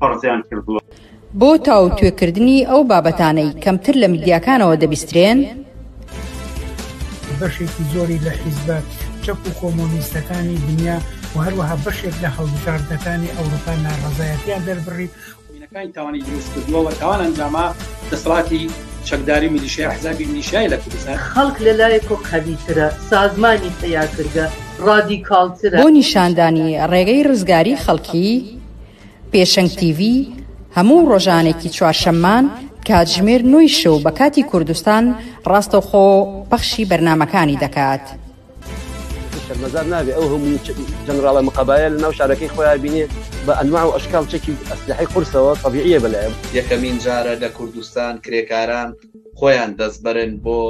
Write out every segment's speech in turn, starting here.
پەڕزیان کردووە. بۆ تاوتوێکردنی ئەو بابەتانەی کەمتر لە میدیاکانەوە دەبیسترێن، بەشێکی زۆری لە حیزبە چەپ و کۆمۆنیستەکانی دنیا و هەروەها بەشێک لە هەڵبژاردەکانی ئەوروپا ناڕەزایەتیان دەربڕی کانی تاوانی دروست کردووە و تاوان ئەنجاما دەسەڵاتی چەکداری میلیشیا حزابی میلیشیای لە کوردستان خەڵک لە لایەکۆ قەویترە، سازمانی پەیاکرگە ڕادیکاڵترە. بۆ نیشاندانی ڕێگەی ڕزگاری خەڵکی، پێشەنگ تیڤی، هەموو ڕۆژانێکی چوارشەممان کاتژمێر نۆی شەو بە کاتی کوردستان ڕاستەوخۆ پەخشی بەرنامەکانی دەکات. شەرمەزار نابێ ئەو هەموو جەنراڵە مقەبایە لە ناو شارەکەی خۆیان بینێ بە ئەنواع و ئەشکاڵ چەکی ئەسلەحەی قورسەوە تەبیعیە بەلایان. یەکەمین جارە لە کوردستان کرێکاران، خۆیان دەسبرن بۆ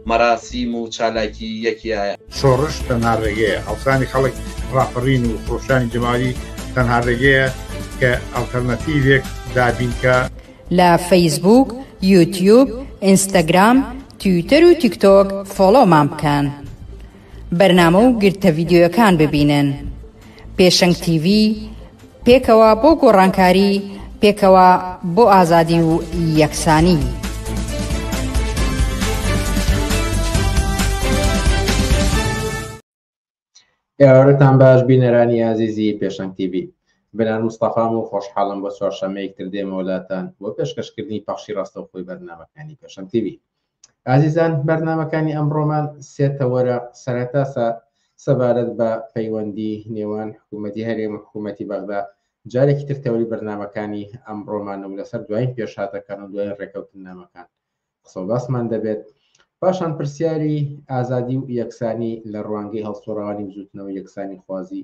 مەراسیم و چالاکی یەکیایە. شۆڕش تەنها ڕێگەیە، هەڵسانی خەڵک، ڕاپەڕین و خرۆشانی جەماوەری تەنها ڕێگەیە کە ئەڵتەرناتیڤێک دابینکا. لە فەیسبووک، یوتیوب، ئینستاگرام، تویتەر و تیکتۆک فۆڵۆمان بکەن بەرنامە و گرتە ڤیدیۆیەکان ببینن. پێشەنگ تیڤی، پێکەوە بۆ گۆڕانکاری، پێکەوە بۆ ئازادی و یەکسانی. ئێوارتان باش بینەرانی ئازیزی پێشەنگ تیڤی بنار مستەفام و خۆشحاڵم بۆ چوارشەمەیەکتر دێمەوەلاتان بۆ پێشکەشکردنی پەخشی ڕاستەوخۆی بەرنامەکانی پێشەنگ تیڤی ئازیزان بەرنمەکانی ئەمڕۆمان سێ تەوەرە سەرەتا سەبارەت بە پەیوەندی نێوان حکوومەتتی هەرێم حکوومەتتی بەغدا جارێکی تر تەوری بەرنمەکانی ئەمڕۆمان و لەسەر دوایین پێشاتەکان و دوای ڕێکەوتنامەکان قسە باسمان دەبێت پاشان پرسیاری ئازادی و یەکسانی لە ڕوانگەی هەڵسوڕوانی بزوتنەوە یەکسانی خوازی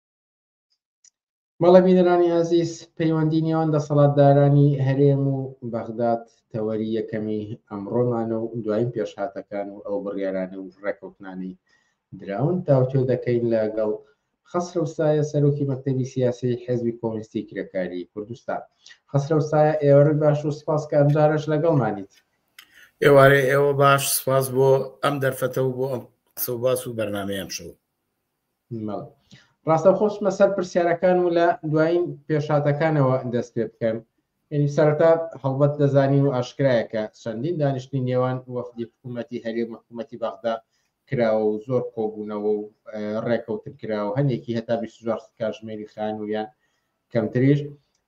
مەڵە بینەرانی ئازیز پەیوەندی نێوان دەسەڵاتدارانی هەرێم و بەغداد تەوەری یەکەمی ئەمڕۆمانە و دوایین پێشهاتەکان و ئەو بڕیارانە و ڕێکەوتنانی دراون تاوتێ دەکەین لەگەڵ خەسرەوسایە سەرۆکی مەکتتەبی سیاسی حزبی کۆمستی کرێکاری کوردستان خەسرەوسایە ئێوەرت باش و سپاس کە ئەمجارش لەگەڵمانیت ئێوارێ ئێوە باش سپاس بۆ ئەم دەرفەتە و بۆ ئەم قسە باس و بەرنمەیەم شەو ڕاستە خۆشمە سەر پرسیارەکان و لە دوایین پێشاتەکانەوە دەست پێ بکەن یعنی سەرتا هەڵبەت دەزانین و ئاشکرایە کە چەندین دانیشتنی نێوان وەفدی حکوومەتی هەرێ محکوومەتی بەغدا کراوە و زۆر کۆبوونەوە و ڕێکەوتن کراوە هەندێکی هەتا 24 کاتژمێری خانوویان کەمتریش،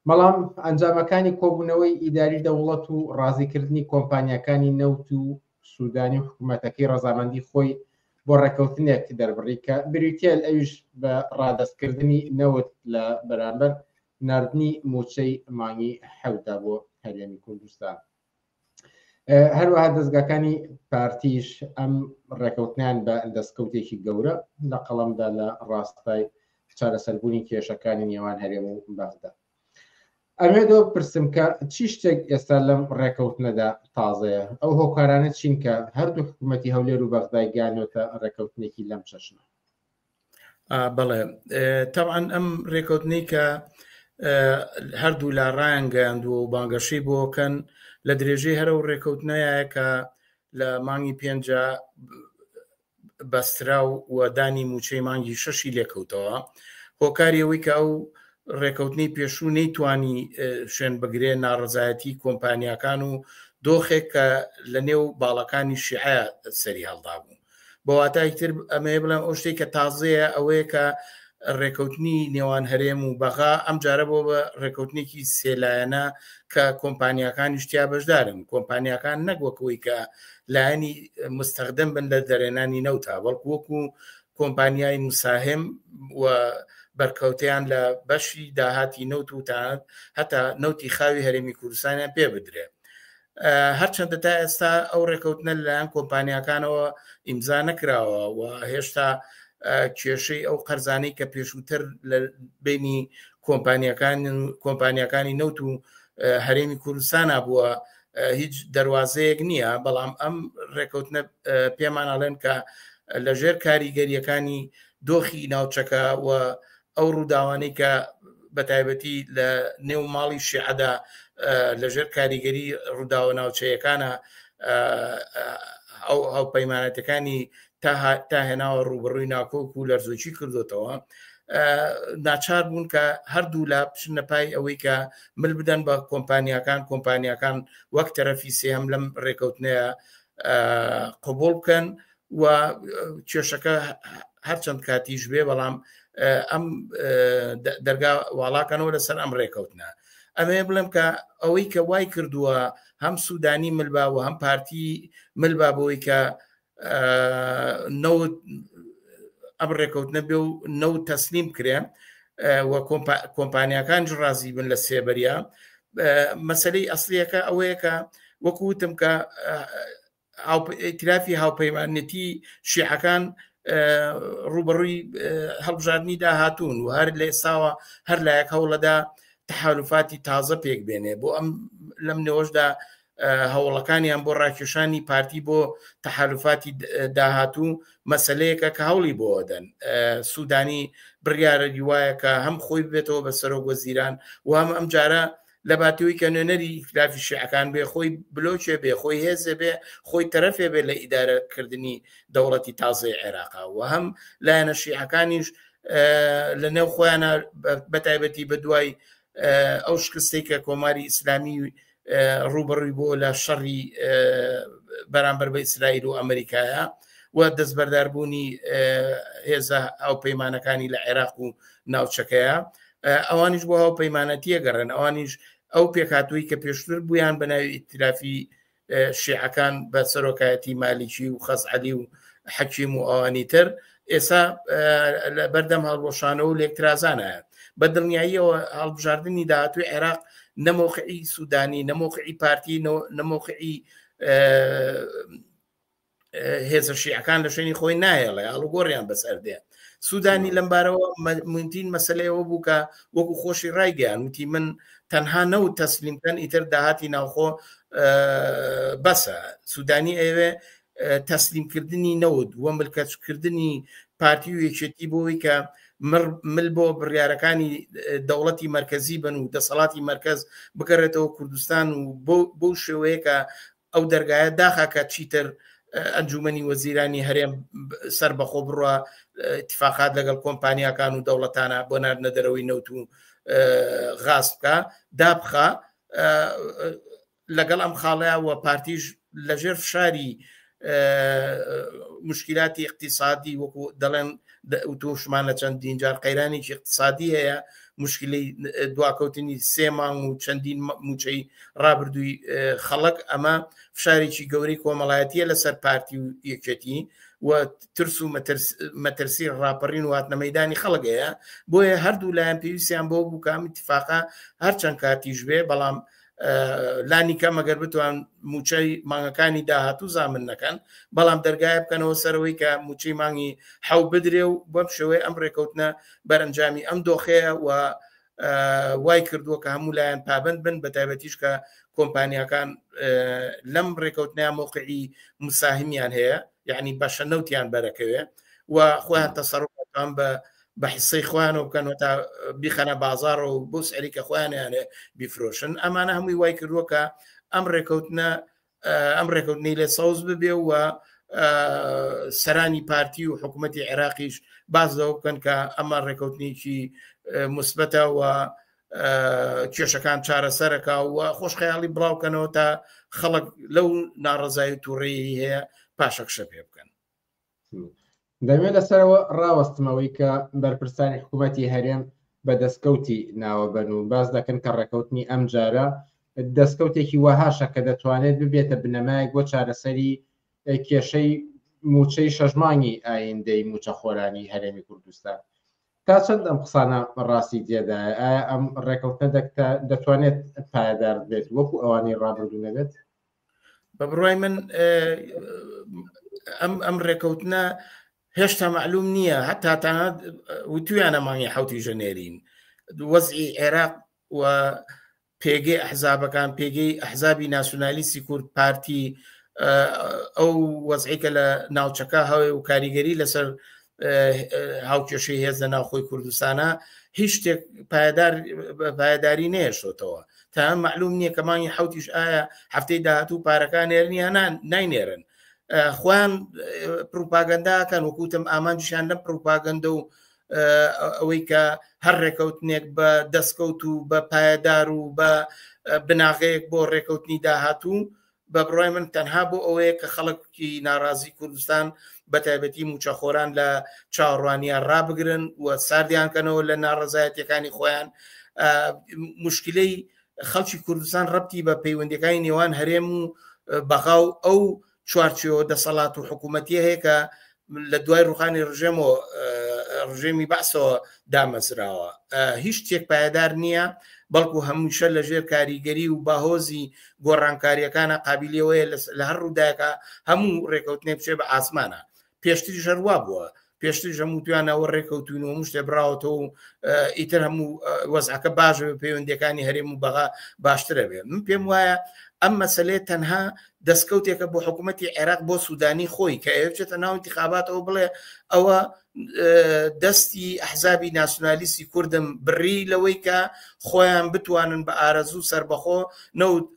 بەڵام ئەنجامەکانی کۆبوونەوەی ئیداری دەوڵەت و ڕازیکردنی کۆمپانیاکانی نەوت و سوودانی و حکومەتەکەی ڕەزامەندی خۆی بۆ ڕێککەوتنێک دەربڕی کە بریتییە ئەویش بە ڕادەستکردنی نەوت لە بەرامبەر ناردنی مووچەی مانگی حەوتدا بۆ هەرێمی کوردستان. هەروەها دەستگاکانی پارتیش ئەم ڕێکەوتنیان بە دەستکەوتێکی گەورە لە قەڵمدا لە ڕاستای چارەسەربوونی کێشەکانی نێوان هەرێم و بەغدا ئەمێدۆ پرسم کە چی شتێک ئێستا لەم ڕێکەوتنەدا تازەیە ئەو هۆکارانە چین کە هەردوو حکوومەتتی هەولێر و بەغدای گانۆتە ڕێکەوتنێکی لەم چەشنە بەڵێ تاوان ئەم ڕێکوتنەی کە هەردوو لا ڕایانگەیاندووە و بانگەشەی بۆکەن لە درێژەی هەرە و ڕێکەوتنەیە کە لە مانگی پێنج بەسترا و وەدانی موچەی مانگی شەشی لێکەوتەوە هۆکاری ئەوەی کە ئەو ڕێکەوتنی پێشوو نەیتوانی شوێن بگرێ ناڕزایەتی کۆمپانیاکان و دۆخێک کە لە نێو باڵەکانی شیعە سەری هەڵدا بوو بە واتای تر ئەمەیە بڵێم ئەو شتێک کە تازەیە ئەوەیە کە ڕێکەوتنی نێوان هەرێم و بەغا ئەم جارە بۆ بە ڕێکەوتنێکی سێلایەنە کە کۆمپانیەکانی شتیا بەشدارن کۆمپانیەکان نەگوەکەوەی کە لایەنی مستەخدم بن لە دەرێنانی نەوتا بەڵکو وەکو کۆمپانیای مساهم و بەرکەوتیان لە بەشی داهاتی نەوت و تاات هەتا نەوتی خاوی هەرێمی کوردستانیان پێ بدرێت هەرچەندە تا ئێستا ئەو ڕێکەوتنە لەلایەن کۆمپانیاکانەوە ئیمزا نەکراوە و هێشتا کێشەی ئەو قەرزانەی کە پێشووتر لە بینی کۆمپانیەکان کۆمپانیەکانی نەوت و هەرێمی کوردستانە بووە هیچ دەواازەیەک نییە بەڵام ئەم ڕێکەوتنە پێمانناڵێن کە لەژێر کاریگەریەکانی دۆخی ناوچەکە و ئەو ڕووداوانەی کە بە تایبەتی لە نێو ماڵی شیعەدا لەژێر کاریگەری ڕووداوە ناوچەیەکانە ئەو هاوپەیمانەتەکانی تا هێناوە ڕوبڕووی ناکۆک و لەرزۆکی کردوتەوە ناچار بوون کە هەردوو لا بچنە پای ئەوەی کە مل بدەن بە کۆمپانیەکان کۆمپانیەکان وەک تەرەفی سێم لەم ڕێکەوتنەیە قوبول بکەن و کێشەکە هەرچەند کاتیش بێ بەڵام ئەم دەرگا واڵاکەنەوە لەسەر ئەم ڕێکەوتنە ئەمێ بڵێم کە ئەوەی کە وای کردووە هەم سوودانی ملبا و هەم پارتی ملبا بۆی کە نەوت ئەم ڕێکەوتنە بێ و نەو تەسلیم کرێن و کۆمپانیەکان ڕازی بن لە سێبەریا مەسلەی ئەسلیەکە ئەوەیە کە وەکوتم کە ئیتلافی هاوپەیمانەتی شیعەکان ڕوبەڕووی هەڵبژاردننی داهاتون و هەر لە ئێستاوە هەر لایەک هەوڵەدا تحالفاتی تازە پێک بێنێ بۆ ئەم لەم نێۆشدا هەوڵەکانیان بۆ ڕاکێشانی پارتی بۆ تحالفاتی داهاتوو مەسلەیەکە کە هەوڵی بۆ دەن سوودانی بڕیارە دیوایە کە هەم خۆی بێتەوە بە سەرۆک وەزیران و هەم ئەم جارە لەباتەوەی کە نوێنەری ئیتلافی شیعەکان بێ خۆی بلۆچێ بێ خۆی هێزێ بێ خۆی تەرەفێ بێ لە ئیدارەکردنی دەوڵەتی تازەی عێراقا و هەم لایەنە شیعەکانیش لە نێو خۆیانە بەتایبەتی بە دوای ئەو شکستی کە کۆماری ئیسلامی ڕوبڕی بۆ لە شەڕی بەرامبەر بە ئیسرائیل و ئەمریکایە و دەستبەرداربوونی هێزە ئەو پەیمانەکانی لە عێراق و ناوچەکەیە ئەوانیش بۆ هاو پەیمانەتیە گەڕێن ئەوانیش ئەو پێکاتووی کە پێشتر بوویان بە ناوی ئیترافی شیعەکان بە سەرۆکایەتی مالیکی و خەزعلی و حەکیم و ئەوانی تر ئێسا لە بەردەم هەڵبۆشانەوە و لێکترازانایە بە دڵنیاییەوە هەڵبژاردننی داهاتوی عێراق نەمۆقعی سوودانی نەمۆقعی پارتی نەمۆقعی هێزە شیعەکان لە شوێنی خۆی نایەڵێ ئاڵوگۆڕیان بەسەر دێ سوودانی لەمبارەوە مونتین مەسلەیەوە بوو کە وەکو خۆشی ڕایگەیان وتی من تەنها نە و تەسلیمکەن ئیتر داهاتی ناوخۆ بەسە سوودانی ئەوێ تەسلیمکردنی نەوت وە ملکەچکردنی پارتی و یەکێتی بۆی کە مل بۆ بڕیارەکانی دەوڵەتی مرکزی بن و دەسەڵاتی مرکز بگەڕێتەوە کوردستان و بۆ شێوەیەکە ئەو دەرگایە داخە کە چیتر ئەنجومەنی وەزیرانی هەرێم سەر بەخۆ بڕە اتفاقات لەگەڵ کۆمپانیاکان و دەوڵەتانە بۆ ناردنە دەرەوەی نەوت و غاز بکە دابخە لەگەڵ ئەم خاڵەیە و پارتیش لەژێر فشاری مشکلاتی اقتصادی وەکو دەڵێن توشمان لە چەندین جار قەیرانێکی اقتصادی هەیە مشکلی دواکەوتنی سێ مانگ و چەندین موچەی ڕابردووی خەڵک ئەمە فشارێکی گەورەی کۆمەڵایەتە لەسەر پارتی و یەکێتی و ترس و مەترسی ڕاپەڕین واتنە مەدانی خەڵگەیە بۆیە هەردوو لایەن پێویستیان بۆ بووکەم اتفاقا هەرچەند کاتیش بێ بەڵام لانی کەم ئەگەر بتوان موچەی مانگەکانی داهاتوو زامن نەکەن بەڵام دەرگایە بکەنەوە سەرەوەی کە موچەی مانگی حەو بدرێ و بەم شێوەیە ئەم ڕێکەوتنە بەرەنجامی ئەم دۆخەیە و وای کردووە کە هەموو لایەن پابند بن بە تایبەتیش کە کۆمپانیەکان لەم ڕێکەوتنیان موقعی مساهمیان هەیە یعنی بەشە نەوتیان بەرەکەوێ و خۆیان تەسەڕان بە بە حسەی خۆیانەوە بکەنەوە تا بیخەنە بازارەوە و بۆ سەریکە خۆیانیانێ بیفرۆشن ئەمانە هەمووی وای کردووەکە ئەم ڕێکەوتنە ئەم ڕێکەوتنی لێ سەوز ببێ و سەرانی پارتی و حکوومەتتی عێراقیش باز لەوە بکەن کە ئەمە ڕێکەوتنیکی مثبەتە و کێشەکان چارەسەرەکە و خۆشخەیاڵی بڵاوکەنەوە تا خەڵک لەو ناڕزای تووڕێی هەیە پاشەکشە پێ بکەن دەمێ لەسەرەوە ڕاوەستمەوەی کە بەرپرسانی حکوومەتی هەرێم بە دەستکەوتی ناوەبەن و باس دەکەن کە ڕێکەوتنی ئەم جارە دەستکەوتێکی وەهاشە کە دەتوانێت ببێتە بنەمایەک بۆ چارەسەری کێشەی موچەی شەژمانی ئایندەی موچە خۆرانی هەرێمی کوردستان تا چەند ئەم قسانە ڕاستی تێدا ئەم ڕێکەوتە دەکتا دەتوانێت پایدار بێت وەکو ئەوانی ڕابردوو نەبێت بە بڕای من ئەم ئەم ڕێکەوتنە هێشتا معلوم نییە هەتا تا وتویانە مانگی حوتی ژەنێرین وەزی عێراق و پێگەی ئەحزابەکان پێگەی ئەحزابی ناسیۆنالیستی کورد پارتی ئەو وەزعیکە لە ناوچەکە هەوێ و کاریگەری لەسەر هاوکێشەی هێز لە ناوخۆی کوردستانە هیچ شتێک پایدار پایداری نێشتەوە تایان معلوم نییە کە مانگی حوتیش ئایا هەفتەی داهاتوو پارەکان نێرنیانان ناینێرن خۆیان پروپاگەنداکەن وەکوتم ئامانجیشان لەم پروپاگەندە و ئەوەی کە هەر ڕێکەوتنێک بە دەستکەوت و بە پایەدار و بە بناغەیەک بۆ ڕێکەوتنی داهاتوو بە بڕوای من تەنها بۆ ئەوەیە کە خەڵکی ناڕازی کوردستان بە تایبەتی موچەخۆران لە چاوەڕوانیان ڕابگرن و ساردیان کەنەوە لە ناڕزایەتەکانی خۆیان مشکلەی خەڵکی کوردستان ڕەتی بە پەیوەندەکانی نێوان هەرێم و بەغا و ئەو چوارچەوە دەسەڵات و حکوومەتیە هەیە کە لە دوای ڕوخانی ڕژێم و ڕژێمی بەسەوە دامەزراوە هیچ تێک پایدار نییە بەڵکو هەمووشە لە ژێر کاریگەری و باهۆزی گۆڕانکاریەکانە قابلیەوەی لە هەر ڕووداکە هەموو ڕێکەوتنێ بچێ بە ئاسمانە پێشتری ژەروا بووە پێشتر هەموو توانەوە ڕێکەوتون و مشتێ براوەتەوە و ئیتر هەموو وەزعەکە باش پەیوەندەکانی هەرێم و بەغا باشترە بێ من پێم وایە ئەم مەسلەیە تەنها دەستکەوتێکە بۆ حکوومەتی عێراق بۆ سوودانی خۆی کە ئەوێ بچێتە ناو انتخاباتەوە بڵێ ئەوە دەستی ئەحزابی ناسیونالیستی کوردم بڕی لەوەی کە خۆیان بتوانن بە ئارەزوو سربەخۆ نەوت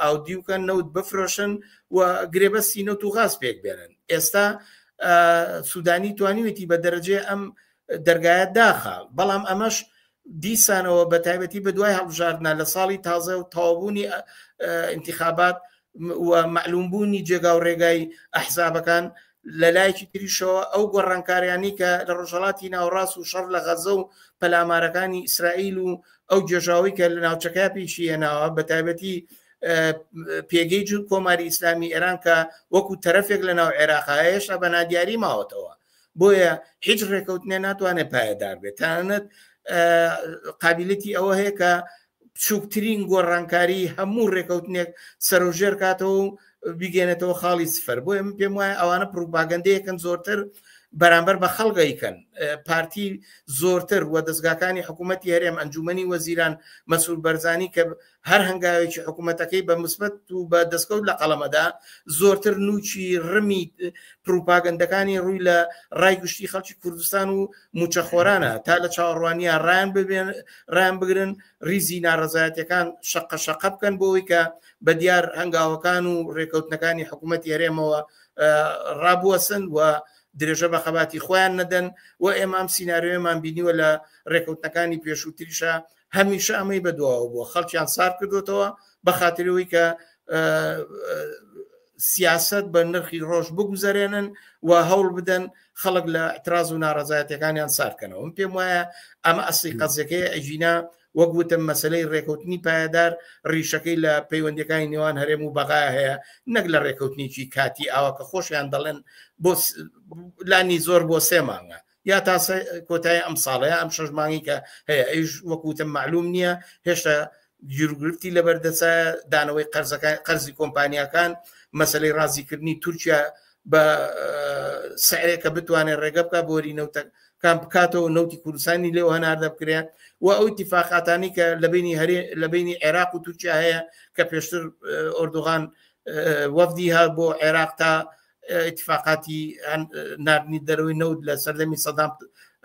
ئاودی وکەن نەوت بفرۆشن و گرێبەستی نەوت و غاز پێک بێنن ئێستا سوودانی توانیوێتی بە دەرەجێ ئەم دەرگایە داخە بەڵام ئەمەش دیسانەوە بە تایبەتی بە دوای هەڵبژاردنا لە ساڵی تازە و تاوبوونی انتخابات و معلومبوونی جێگا و ڕێگای ئەحزابەکان لە لایەکی تریشەوە ئەو گۆڕانکاریانی کە لە ڕۆژهڵاتی ناوڕاست و شەڕ لە غەزە و پەلامارەکانی ئیسرائیل و ئەو جێژاوی کە لە ناوچەکە پیشی هێناوە بە تایبەتی پێگەی جور کۆماری ئیسلامی ئێران کە وەکو تەرەفێک لە ناو عێراقا هێشتا بە نادیاری ماوەتەوە بۆیە هیچ ڕێکەوتنێ ناتوانێت پایەدار بێت تانەت قابلەتی ئەوە هەیە کە بچووکترین گۆڕانکاری هەموو ڕێکەوتنێک سەرژێر کاتەوە و بیگەێنێتەوە خاڵی سفەر بۆیە من پێم وایە ئەوانە پروپاگەندەیەکەن زۆرتر بەرامبەر بە خەڵگەیکەن پارتی زۆرتر و دەستگاکانی حکوومەتتی هەرێم ئەنجومی وەزیران مەسوول بەرزانی کە هەر هەنگاوێکی حکوومەتەکەی بە مسبەت و بە دەستکەوت لە قەڵەمەدا زۆرتر نوچی ڕمی پروپاگەندەکانی ڕووی لە ڕای گشتی خەڵکی کوردستان و موچەخۆرانە تا لە چاوەڕوانیە ڕایان ببێن ڕایان بگرن ریزی ناڕزایەتەکان شەقە شەقە بکەن بۆی کە بە دیار هەنگاوەکان و ڕێکەوتنەکانی حکوومەت یارێمەوە ڕابوەسن و درێژە بە خەباتی خۆیان نەدەن و ئێمام سینناریۆمان بینیوە لە ڕێکەوتنەکانی پێشووتریشە هەمیشە ئەمەی بەدواوە بووە خەڵکیان سار کردوتەوە بە خاترەوەی کە سیاست بە نرخی ڕۆژ بگوزارێنن و هەوڵ بدەن خەڵک لە اعتراز و ناڕزایەتەکانیان سارکەنەوە من پێم وایە ئەمە ئەسی قەزەکەی ئەژینا وەک وتم مەسلەی ڕێکوتنی پایدار ڕیشەکەی لە پەیوەندەکانی نێوان هەرێم و بەغای هەیە نەک لە ڕێکوتنیی کاتی ئاوا کە خۆشیان دەڵێن بۆ لانی زۆر بۆ سێ مانگە یا تا کۆتای ئەم ساڵە یا ئەم شەش مانگی کە هەیە ئەیش وەکوتم معلوم نییە هێشتا گیرگرفتی لەبەردەسە دانەوەی قەرزەکان قەرزی کۆمپانیەکان مەسلەی ڕازیکردنی تورکیا بە سعرێکە بتوانێت ڕێگە بکە بۆری نەوتە کام بکاتەوە نەوتی کوردستانی لێو هەناردە بکرێن و ئەو تیفاقاتانی کە لە بینی هەرێ لە بینی عێراق و تورکیا هەیە کە پێشتر ئۆردوغان وەفدی هە بۆ عێراق تا اتفاقاتی نردنی دەرەوەی نەوت لە سەردەمی سەدام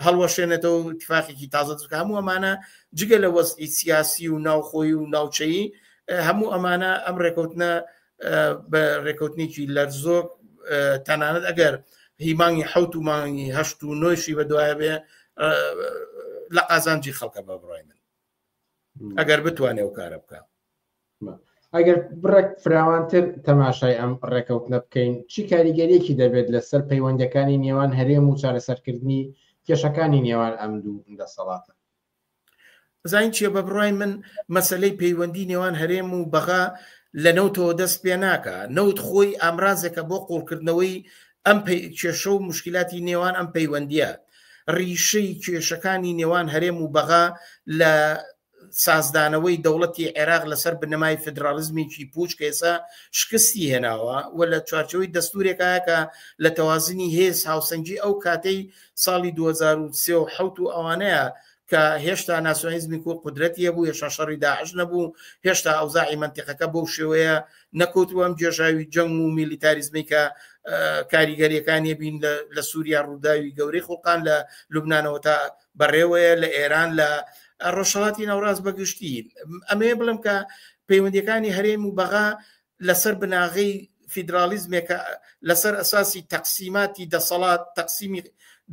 هەڵوەشێنێتەوە تفاقێکی تازە دەکە هەموو ئەمانە جگە لە وەستی سیاسی و ناوخۆی و ناوچەیی هەموو ئەمانە ئەم ڕێکوتنە بە ڕێکوتنیی لەرزۆک تەنانەت ئەگەر هی مانگی حوت و مانگی هەشت و نۆیشی بە دوایە بێ لە قازانجی خەڵکە بە بڕای من ئەگەر بتوانێ و کارە بکە ئەگەر بڕێک فراوانتر تەماشای ئەم ڕێکەوتنە بکەین چی کاریگەریەکی دەبێت لەسەر پەیوەندەکانی نێوان هەرێم و چارەسەرکردنی کێشەکانی نێوان ئەم دوو دەسەڵاتە زین چیە بە بڕای من مەسلەی پەیوەندی نێوان هەرێم و بەغا لە نەوتەوە دەست پێ ناکە نەوت خۆی ئامرازێکە بۆ قوڵکردنەوەی ئەم کێشە و مشکلاتی نێوان ئەم پەیوەندیە ڕیشەی کێشەکانی نێوان هەرێم و بەغا لە سازدانەوەی دەوڵەتی عێراق لەسەر بنەمای فیدراڵیزمێکی پووچ کە ئێستا شکستی هێناوە و لە چوارچێوەی دەستوورێکایە کە لە تەوازنی هێز هاوسەنگی ئەو کاتەی ساڵی دوو هەزار و سێ و حەوت و ئەوانەیە کە هێشتا ناسیۆنالیزمی کورد قودرەتی هەبوو، هێشتا شەڕی داعش نەبوو، هێشتا ئەوزاعی مەنتیقەکە بەو شێوەیە نەکەوتبوو، ئەم گێژاوی جەنگ و میلیتاریزمەی کە کاریگەرییەکانی بین لە سووریا ڕووداوی گەورەی خوڵقاند، لە لوبنانەوە تا بەڕێوەیە لە ئێران لە ڕۆژهڵاتی ناوڕاست بەگشتی ئەمەیە بڵم کە پەیوەندەکانی هەرێم و بەغا لەسەر بناغی فیدراالیزمێکە لەسەر ئەساسی تەقسیماتی دەسەڵات تەقسیمی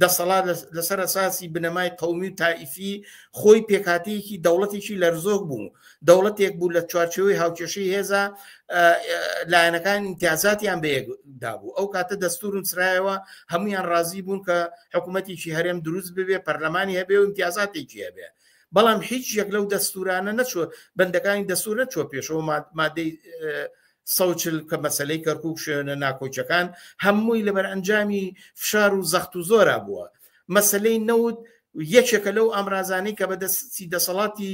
دەسەڵات لەسەر ئەساسی بنەمای قومی و تائیفی خۆی پێکاتەیەکی دەوڵەتێکی لەرزۆک بوو دەوڵەتێک بوو لە چوارچەوەی هاوکێشەی هێزە لایەنەکان امتیازاتیان بەیەکدا بوو ئەو کاتە دەستور و سرایەوە هەمویان ڕازی بوون کە حکوومەتێکی هەرێم دروست ببێ پەرلەمانی هەبێ و امتیازاتێکی هەبێ بەڵام هیچ یەک لەو دەستورانە نەچوە بەندەکانی دەستور نەچوە پێشەوە مادەی سەوچل کە مەسلەی کەرکک شوێنە ناکۆچەکان هەمووی لەبەر ئەنجامی فشار و زەخت و زۆرا بووە مەسلەی نەوت یەکێکە لەو ئامرازانەی کە بەدەستی دەسەڵاتی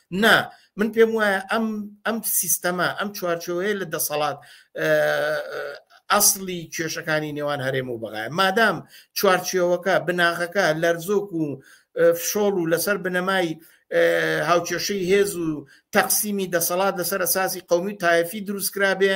نا من پێم وایە ئەم ئەم سیستەما ئەم چوارچەوەیە لە دەسەڵات ئەاصلی کێشەکانی نێوان هەرێم و بەغای مادام چوارچەوەکە بناغەکە لەرزۆک و فشۆڵ و لەسەر بنەمای هاوکێشەی هێز و تەقسیمی دەسەڵات لەسەر ئەساسی قومی تایفی دروستکرابێ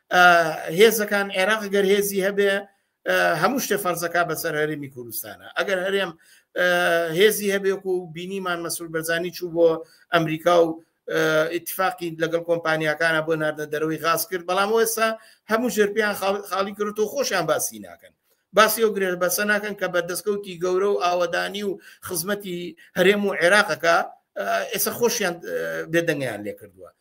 هێزەکان عێراق گەر هێزی هەبێ هەموو شتێ فەرزەکە بەسەر هەرێمی کوردستانە ئەگەر هەرێم هێزی هەبێک و بینیمان مەسول بەرزانی چوو بۆ ئەمریکا و اتفاقی لەگەڵ کۆمپانیەکانە بۆ ناردە دەرەوەی غاز کرد بەڵام ئێستا هەموو ژێرپیان خاڵی کرد و خۆشیان باسی ناکەن باسی ئەو گرێژ بەسە ناکەن کە بە دەستکەوتی گەورە و ئاوەدانی و خزمەتی هەرێم و عێراقەکە ئێستا خۆشیان بێدەنگیان لێ کردووە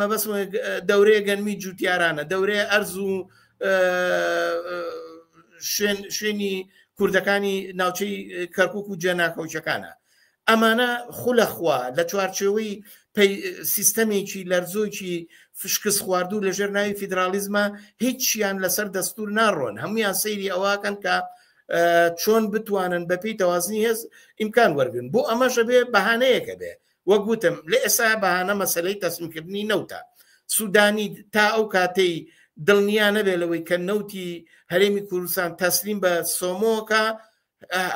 مەبەست دەورەیە گەنمی جووتیارانە دەورەیە ئەرز و شوێن شوێنی کوردەکانی ناوچەی کەرکک و جێناکەوچەکانە ئەمانە خولەخوا لە چوارچێوەی سیستەمێکی لەرزۆکی فشکس خواردوو لەژێر ناوی فیدراالیزمە هیچیان لەسەر دەستور ناڕۆن هەمویان سەیری ئەوەکەن کە چۆن بتوانن بەپی تەوازنی هێز ئیمکان وەرگن بۆ ئەمەشە بێ بەهانەیەکە بێ وەک وتم لە ئێستا بەهانە مەسەلەی تەسلیمکردنی نەوتە، سوودانی تا ئەو کاتەی دڵنیا نەبێت لەوەی کە نەوتی هەرێمی کوردستان تەسلیم بە سۆمۆکە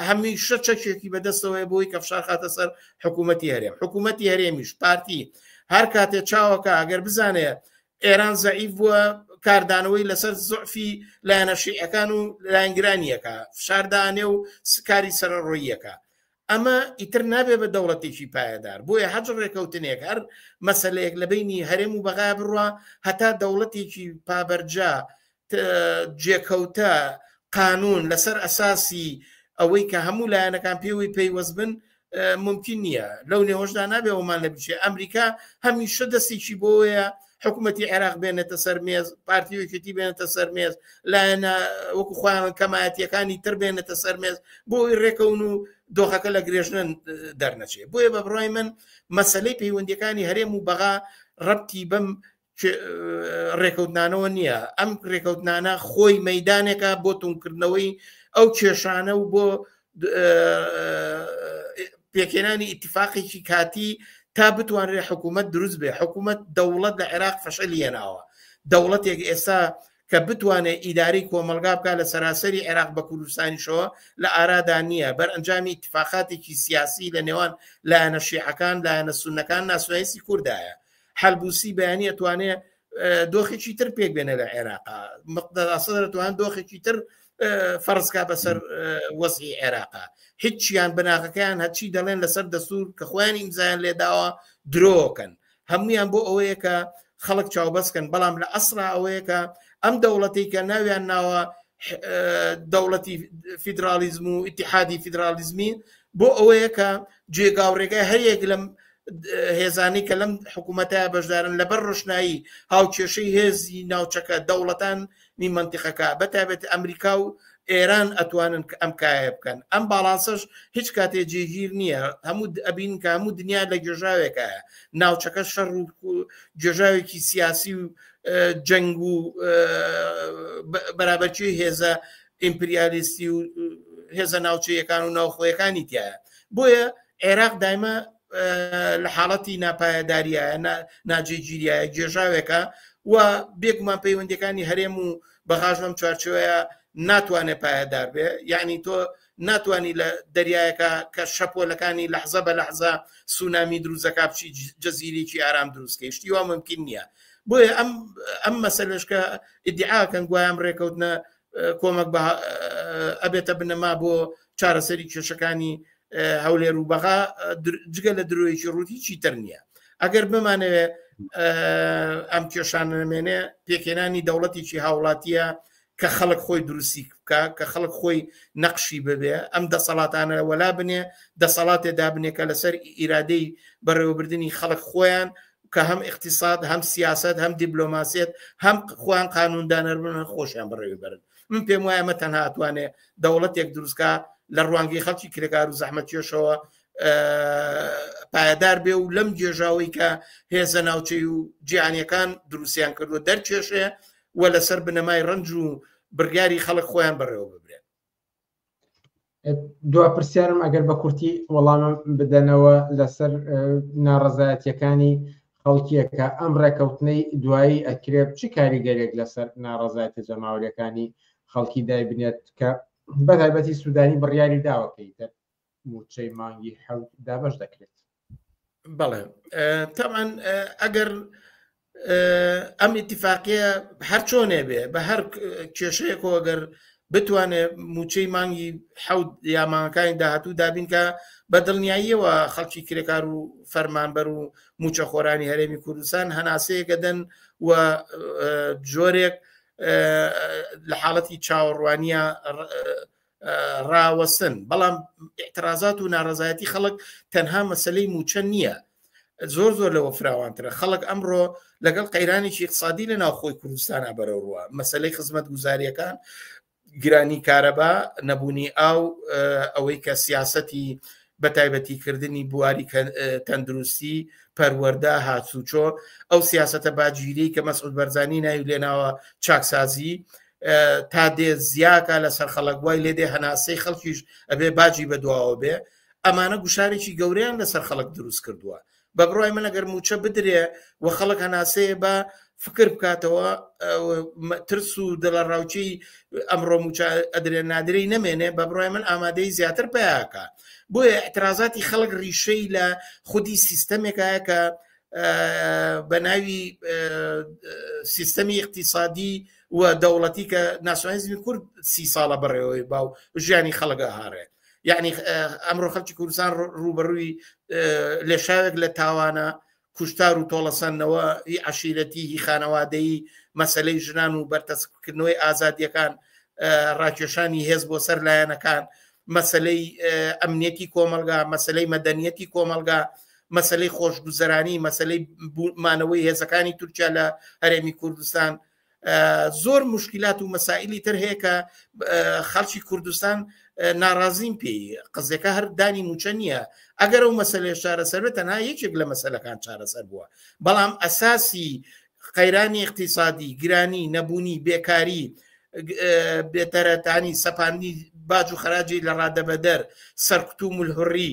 هەمیشە چەکێکی بەدەستەوەی بۆی کە فشار خاتە سەر حکوومەتتی هەرێم حکوومەتتی هەرێمیش پارتی هەر کاتێ چاوەکە ئەگەر بزانێت ئێران زەعیف بووە کاردانەوەی لەسەر زۆفی لایەنەشیعەکان و لایەنگرانیەکە فشاردانێ و سکاری سەرڕۆیەکە ئەمە ئیتر نابێ بە دەوڵەتێکی پایەدار بۆیە هەج ڕێکەوتنێک هەر مەسلەیەک لە بینی هەرێم و بەغا بڕە هەتا دەوڵەتێکی پابەرجا جێکەوتە قانون لەسەر ئەساسی ئەوەی کە هەموو لایەنەکان پێوەی پەیوەست بن ممکن نییە لەو نێهۆشدا نابێ ئەومان لە بچێ ئەمریکا هەمیشە دەستێکی بۆیە حکوومەتتی عێراق بێنێتە سەر مێز پارتی وکیتی بێنێتە سەر مێز لایەنە وەکو خۆیان کەمایەتەکانی تر بێنێتە سەر مێز بۆی ڕێکەون و دۆخەکە لە گرێژنن دەرنەچێت بۆیە بە بڕای من مەسلەی پەیوەندەکانی هەرێم و بەغا ڕەتی بەم ڕێکەوتنانەوە نییە ئەم ڕێکەوتنانە خۆی مەدانێکە بۆ تونکردنەوەی ئەو کێشانە و بۆ پێکێنانی ئیتفاقێکی کاتی تا بتوانرێ حکوومەت دروست بێ حکوومەت دەوڵەت لە عێراق فەشە لێناوە دەوڵەتێک ئێستا کە بتوانێت ئیداری کۆمەلگا بکە لە سەراسەری عێراق بە کوردستانیشەوە لە ئارادا نییە بەر ئەنجامی اتفاقاتێکی سیاسی لە نێوان لایەنە شیعەکان لایەنە سونەکان ناسوایسی کوردایە حلبوسی بەیانی ئەتوانێت دۆخێکی تر پێک بێنە لە عێراق مقدەداسەدرەتوان دۆخێکی تر فەرزکا بەسەر وەزی عێراق هیچیان بناغەکەیان هەچی دەڵێن لەسەر دەسوور کە خۆیان ئیمزایان لێداوە درۆکەن هەمویان بۆ ئەوەیە کە خەڵک چاوبەستکەن بەڵام لە ئەسرا ئەوەیە کە ئەم دەوڵەتی کە ناویان ناوە دەوڵەتی فیدراالیزم و ئتیحادی فیدراالیزمی بۆ ئەوەیە کە جێگا و ڕێگای هەریەک لەم هێزانی کە لەم حکوومەتە بەشدارن لەبەر ڕشنایی هاوکێشەی هێزی ناوچەکە دەوڵەتان نی منتیقەکە بەتابێت ئەمریکا و ئێران ئەتوانن کە ئەم کایە بکەن ئەم باڵانسەش هیچ کاتێ جێگیر نییە هەموو ئەبین کە هەموو دنیا لە گێژاوێکە ناوچەکە شەڕ و گێژاوێکی سیاسی و جەنگ و بەرابەرچی هێزە ئیمپریالیستی و هێزە ناوچەیەکان و ناوخۆیەکانی تایە بۆیە عێراق دایمە لە حاڵەتی ناپایەداریە ناجێگیریە گێژاوێکە و بێگومان پەیوەندەکانی هەرێم و بەغاش لەم چوارچوەیە ناتوانێت پایەدار بێ یعنی تۆ ناتانی لە دەریایەکە کە شەپۆلەکانی لەحزە بە لەحزە سونامی دروزەکە بچی جەزیرێکی ئارام دروستکەی شتی وا ممکن نییە بۆیە ئەم ئەم مەسلشکە ئیدعاکەن گویان ڕێکەوتنە کۆمەک ئەبێتە بنەما بۆ چارەسەری کێشەکانی هەولێر و بەغا جگە لە درۆیەکی ڕووتی چی تر نییە ئەگەر بمانەوێ ئەم کێشانە نمێنێ پێکێنانی دەوڵەتێکی هاوڵاتیە کە خەڵک خۆی دروستی بکە کە خەڵک خۆی نەقشی ببێ ئەم دەسەڵاتانە وەلا بنێ دەسەڵاتێ دابنێکە لەسەر ئیرادەی بەڕێوەبردننی خەڵک خۆیان کە هەم ئیقتیساد هەم سیاسەت هەم دیبلۆماسیەت هەم خۆیان قانوندانەر بن هەم خۆشیان بەڕێوی بەرن من پێم وایە مە تەنها ئەتوانێ دەوڵەتێک دروستکە لە ڕوانگەی خەڵکی کرێکار و زەحمەتیێشەوە پایدار بێ و لەم جێژاوی کە هێزە ناوچەی و جیانیەکان دروستیان کردو دەرکێشێ و لەسەر بنەمای ڕنج و بڕیاری خەڵک خۆیان بەڕێوە ببرێن دوا پرسیارم ئەگەر بە کورتی وەڵامم بدەنەوە لەسەر ناڕەزایەتەکانی خەڵکیەکە ئەم ڕێکەوتنەی دوایی ئەکرێ چ کاریگەرێک لەسەر ناڕەزایەتە جەماوریەکانی خەڵکی دایبنێت کە بەتایبەتی سوودانی بڕیاری داوەکەی تر موچەی مانگی حەوت دابش دەکرێت بەڵێ تاوان ئەگەر ئەم ئیتفاقیە هەر چۆنێ بێ بە هەر کێشەیە کۆگەر بتوانێت موچەی مانگی حەوت یامانەکانی داهاتوو دابینکە بە دڵنیاییەوە خەڵکی کرێکار و فەرمانبەر و موچە خۆرانی هەرێمی کوردستان هەناسەیەکە دەن و جۆرێک لە حاڵەتی چاوەڕوانیە ڕاوەسن بەڵام اعترازات و ناڕزایەتی خەڵک تەنها مەسلەی موچە نییە زۆر زۆر لەوە فراوانترە خەڵک ئەمڕۆ لەگەڵ قەیرانێکی اقتصادی لە ناوخۆی کوردستانە بەرەوڕوە مەسلەی خزمەت گوزاریەکان گرانی کارەبا نەبوونی ئاو ئەوەی کە سیاستی بەتایبەتی کردنی بواری تەندروستی، پەروەردە، هاتوچۆ، ئەو سیاسەتە باجیرەی کە مەسعود بەرزانی ناوی لێناوە چاکسازی، تا دێ زیاکا لەسەر خەڵک وای لێ دێ هەناسەی خەڵکیش ئەبێ باجی بەدواوە بێ، ئەمانە گوشارێکی گەورەیان لەسەر خەڵک دروست کردووە، بە بڕای من ئەگەر موچە بدرێ و خەڵک هەناسەیە بە فکر بکاتەوە ترس و دڵە ڕاوچی ئەمڕۆ موچە ئەدرێ نادرەی نەمێنێ بە بڕای من ئامادەی زیاتر پیاکە بۆیە اعترازاتی خەڵک ڕیشەی لە خودی سیستەمێکایە کە بە ناوی سیستەمی اقتصادی و دەوڵەتی کە ناسیۆنالیزمی کورد سی ساڵە بەڕێوەی باو ژیانی خەڵگە هاڕێت یعنی ئەمڕۆ خەلکی کوردستان ڕوبەڕووی لێشاوێک لە تاوانە کوشتار و تۆڵەسەندنەوە هی عشیرەتی هی خانەوادەی مەسلەی ژنان و بەرتەسکردنەوەی ئازادیەکان ڕاکێشانی هێز بۆ سەر لایەنەکان مەسلەی ئەمنیەتی کۆمەلگا مەسلەی مەدەنیەتی کۆمەلگا مەسلەی خۆشگوزەرانی مەسلەی مانەوەی هێزەکانی تورکیا لە هەرێمی کوردستان زۆر مشکلات و مەسائلی تر هەیە کە خەڵکی کوردستان ناڕازیم پێی قزەکە هەر دانی موچە نییە ئەگەر و مەسلێ شارەسەر تەنها یەکێک لە مەسلەکان چارەسەر بووە بەڵام ئەساسی قەیرانی اقتصادی گرانی نەبوونی بێکاری بێتەرەتانی سەپاندی باج و خراجی لە ڕادەبەدەر سەرکوت و ملهڕی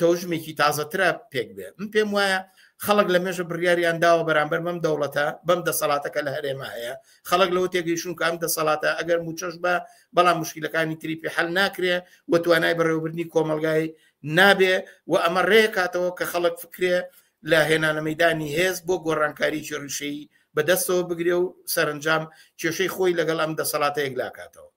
تەوژمێکی تازەترە پێک بێ من پێم وایە خەڵک لە مێژە بڕیاریان داوە بەرامبەر بەم دەوڵەتە بەم دەسەڵاتەکە لە هەرێما هەیە خەڵک لەوە تێگەیشون کام دەسەڵاتە ئەگەر موچەش بە بەڵام مشکلەکانی تریپی حل ناکرێ و توانای بەڕێوەبردننی کۆمەلگای نابێ و ئەمە ڕێکاتەوە کە خەڵک فکرێ لە هێنانە مەدانی هێز بۆ گۆڕانکاری چێڕشەی بەدەستەوە بگرێ و سەرنجام کێشەی خۆی لەگەڵ ئەم دەسەڵاتە یەکلاکاتەوە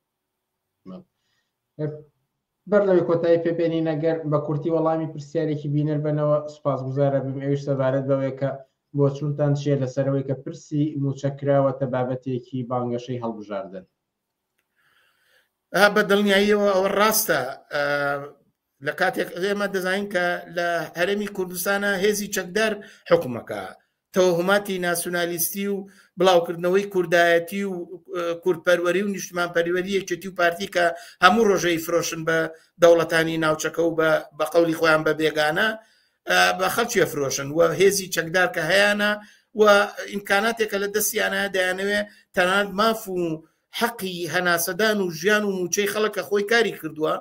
بەر لەوەی کۆتایی پێبێنین ئەگەر بە کورتی وەڵامی پرسیارێکی بینەر بنەوە سوپاس گوزارە بم ئەوش سەبارەت بەوەیە کە بۆ چونتان چیە لەسەرەوەی کە پرسی موچەکراوەتە بابەتێکی بانگەشەی هەڵبژاردن بە دڵنیاییەوە ئەوە ڕاستە لە کاتێک ئێمە دەزانین کە لە هەرێمی کوردستانە هێزی چەکدار حکومەکە تەوهماتی ناسیونالیستی و بڵاوکردنەوەی کوردایەتی و کوردپەروەری و نیشتمان پەریوەری یەکێتی و پارتی کە هەموو ڕۆژەی فرۆشن بە دەوڵەتانی ناوچەکە و بە قەولی خۆیان بە بێگانە بە خەڵکی فرۆشن و هێزی چەکدار کە هەیەە و ئیمکاناتێکە لە دەستیانە دەیانەوێ تەنان ماف و حەقی هەناسەدان و ژیان و موچەی خەڵکە خۆی کاری کردووە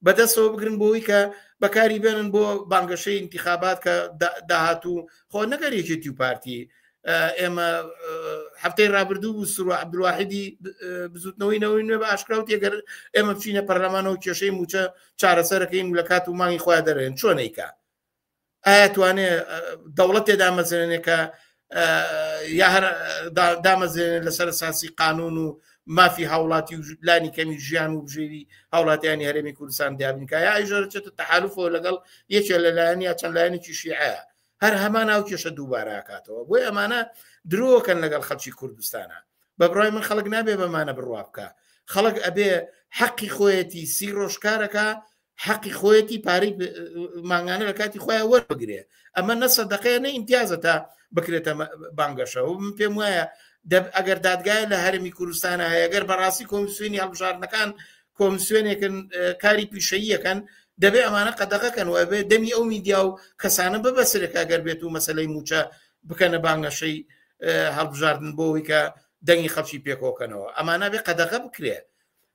بەدەستەوە بگرن بۆی کە بەکاری بێنن بۆ بانگەشەی انتخابات کە داهاتوو خۆ نەگەر یەکێتی و پارتی ئێمە هەفتەی رابردوو و سرو عبدواحدی بزوتنەوەی نەوەی نوێ بە ئاشکراوت یەگەر ئێمە بچینە پەرلەمانەوە کێشەی موچە چارەسەرەکەین لە کات و مانگی خۆیان دەرێن چۆنیکە ئایا توانێ دەوڵەتێ دامەزرێنێ کە یا هەر دامەزرێنێ لەسەر ساسی قانون و مافی هاوڵاتی و لانی کەمی ژیان و بژێوی هاوڵاتیانی هەرێمی کوردستان دیابنکە یا ئەیژۆرچێتە تەحالفەوە لەگەڵ یەکێ لەلایەن یا چەند لایەنێکی شیعە هەر هەمان ئەو کێشە دووباراکاتەوە بۆی ئەمانە درۆکەن لەگەڵ خەڵکی کوردستانە بە بڕای من خەڵک نابێ بەمانە بڕوا بکە خەڵک ئەبێ حەقی خۆیەتی سی ڕۆژکارەکە حەقی خۆیەتی پارەی مانگانە لە کاتی خۆیان وەربگرێ ئەمە نەسە دەقەیە نە ئیمتیازە تا بکرێتە بانگەشە و من پێم وایە ئەگەر دادگای لە هەرمی کوردستانە هەیەگەر بەڕاستی کۆمسیۆنی هەڵبژاردنەکان کۆمسیۆنێکن کاری پیشەییەکەن دەبێ ئەمانە قەدەغەکەن و ئەبێ دەمی ئەو میدیا و کەسانە ببەسرێکە گەر بێت و مەسلەی موچە بکەنە بانگەشەی هەڵبژاردن بۆەوەی کە دەنگی خەڵکی پێکۆکەنەوە ئەمانە بێ قەدەغە بکرێت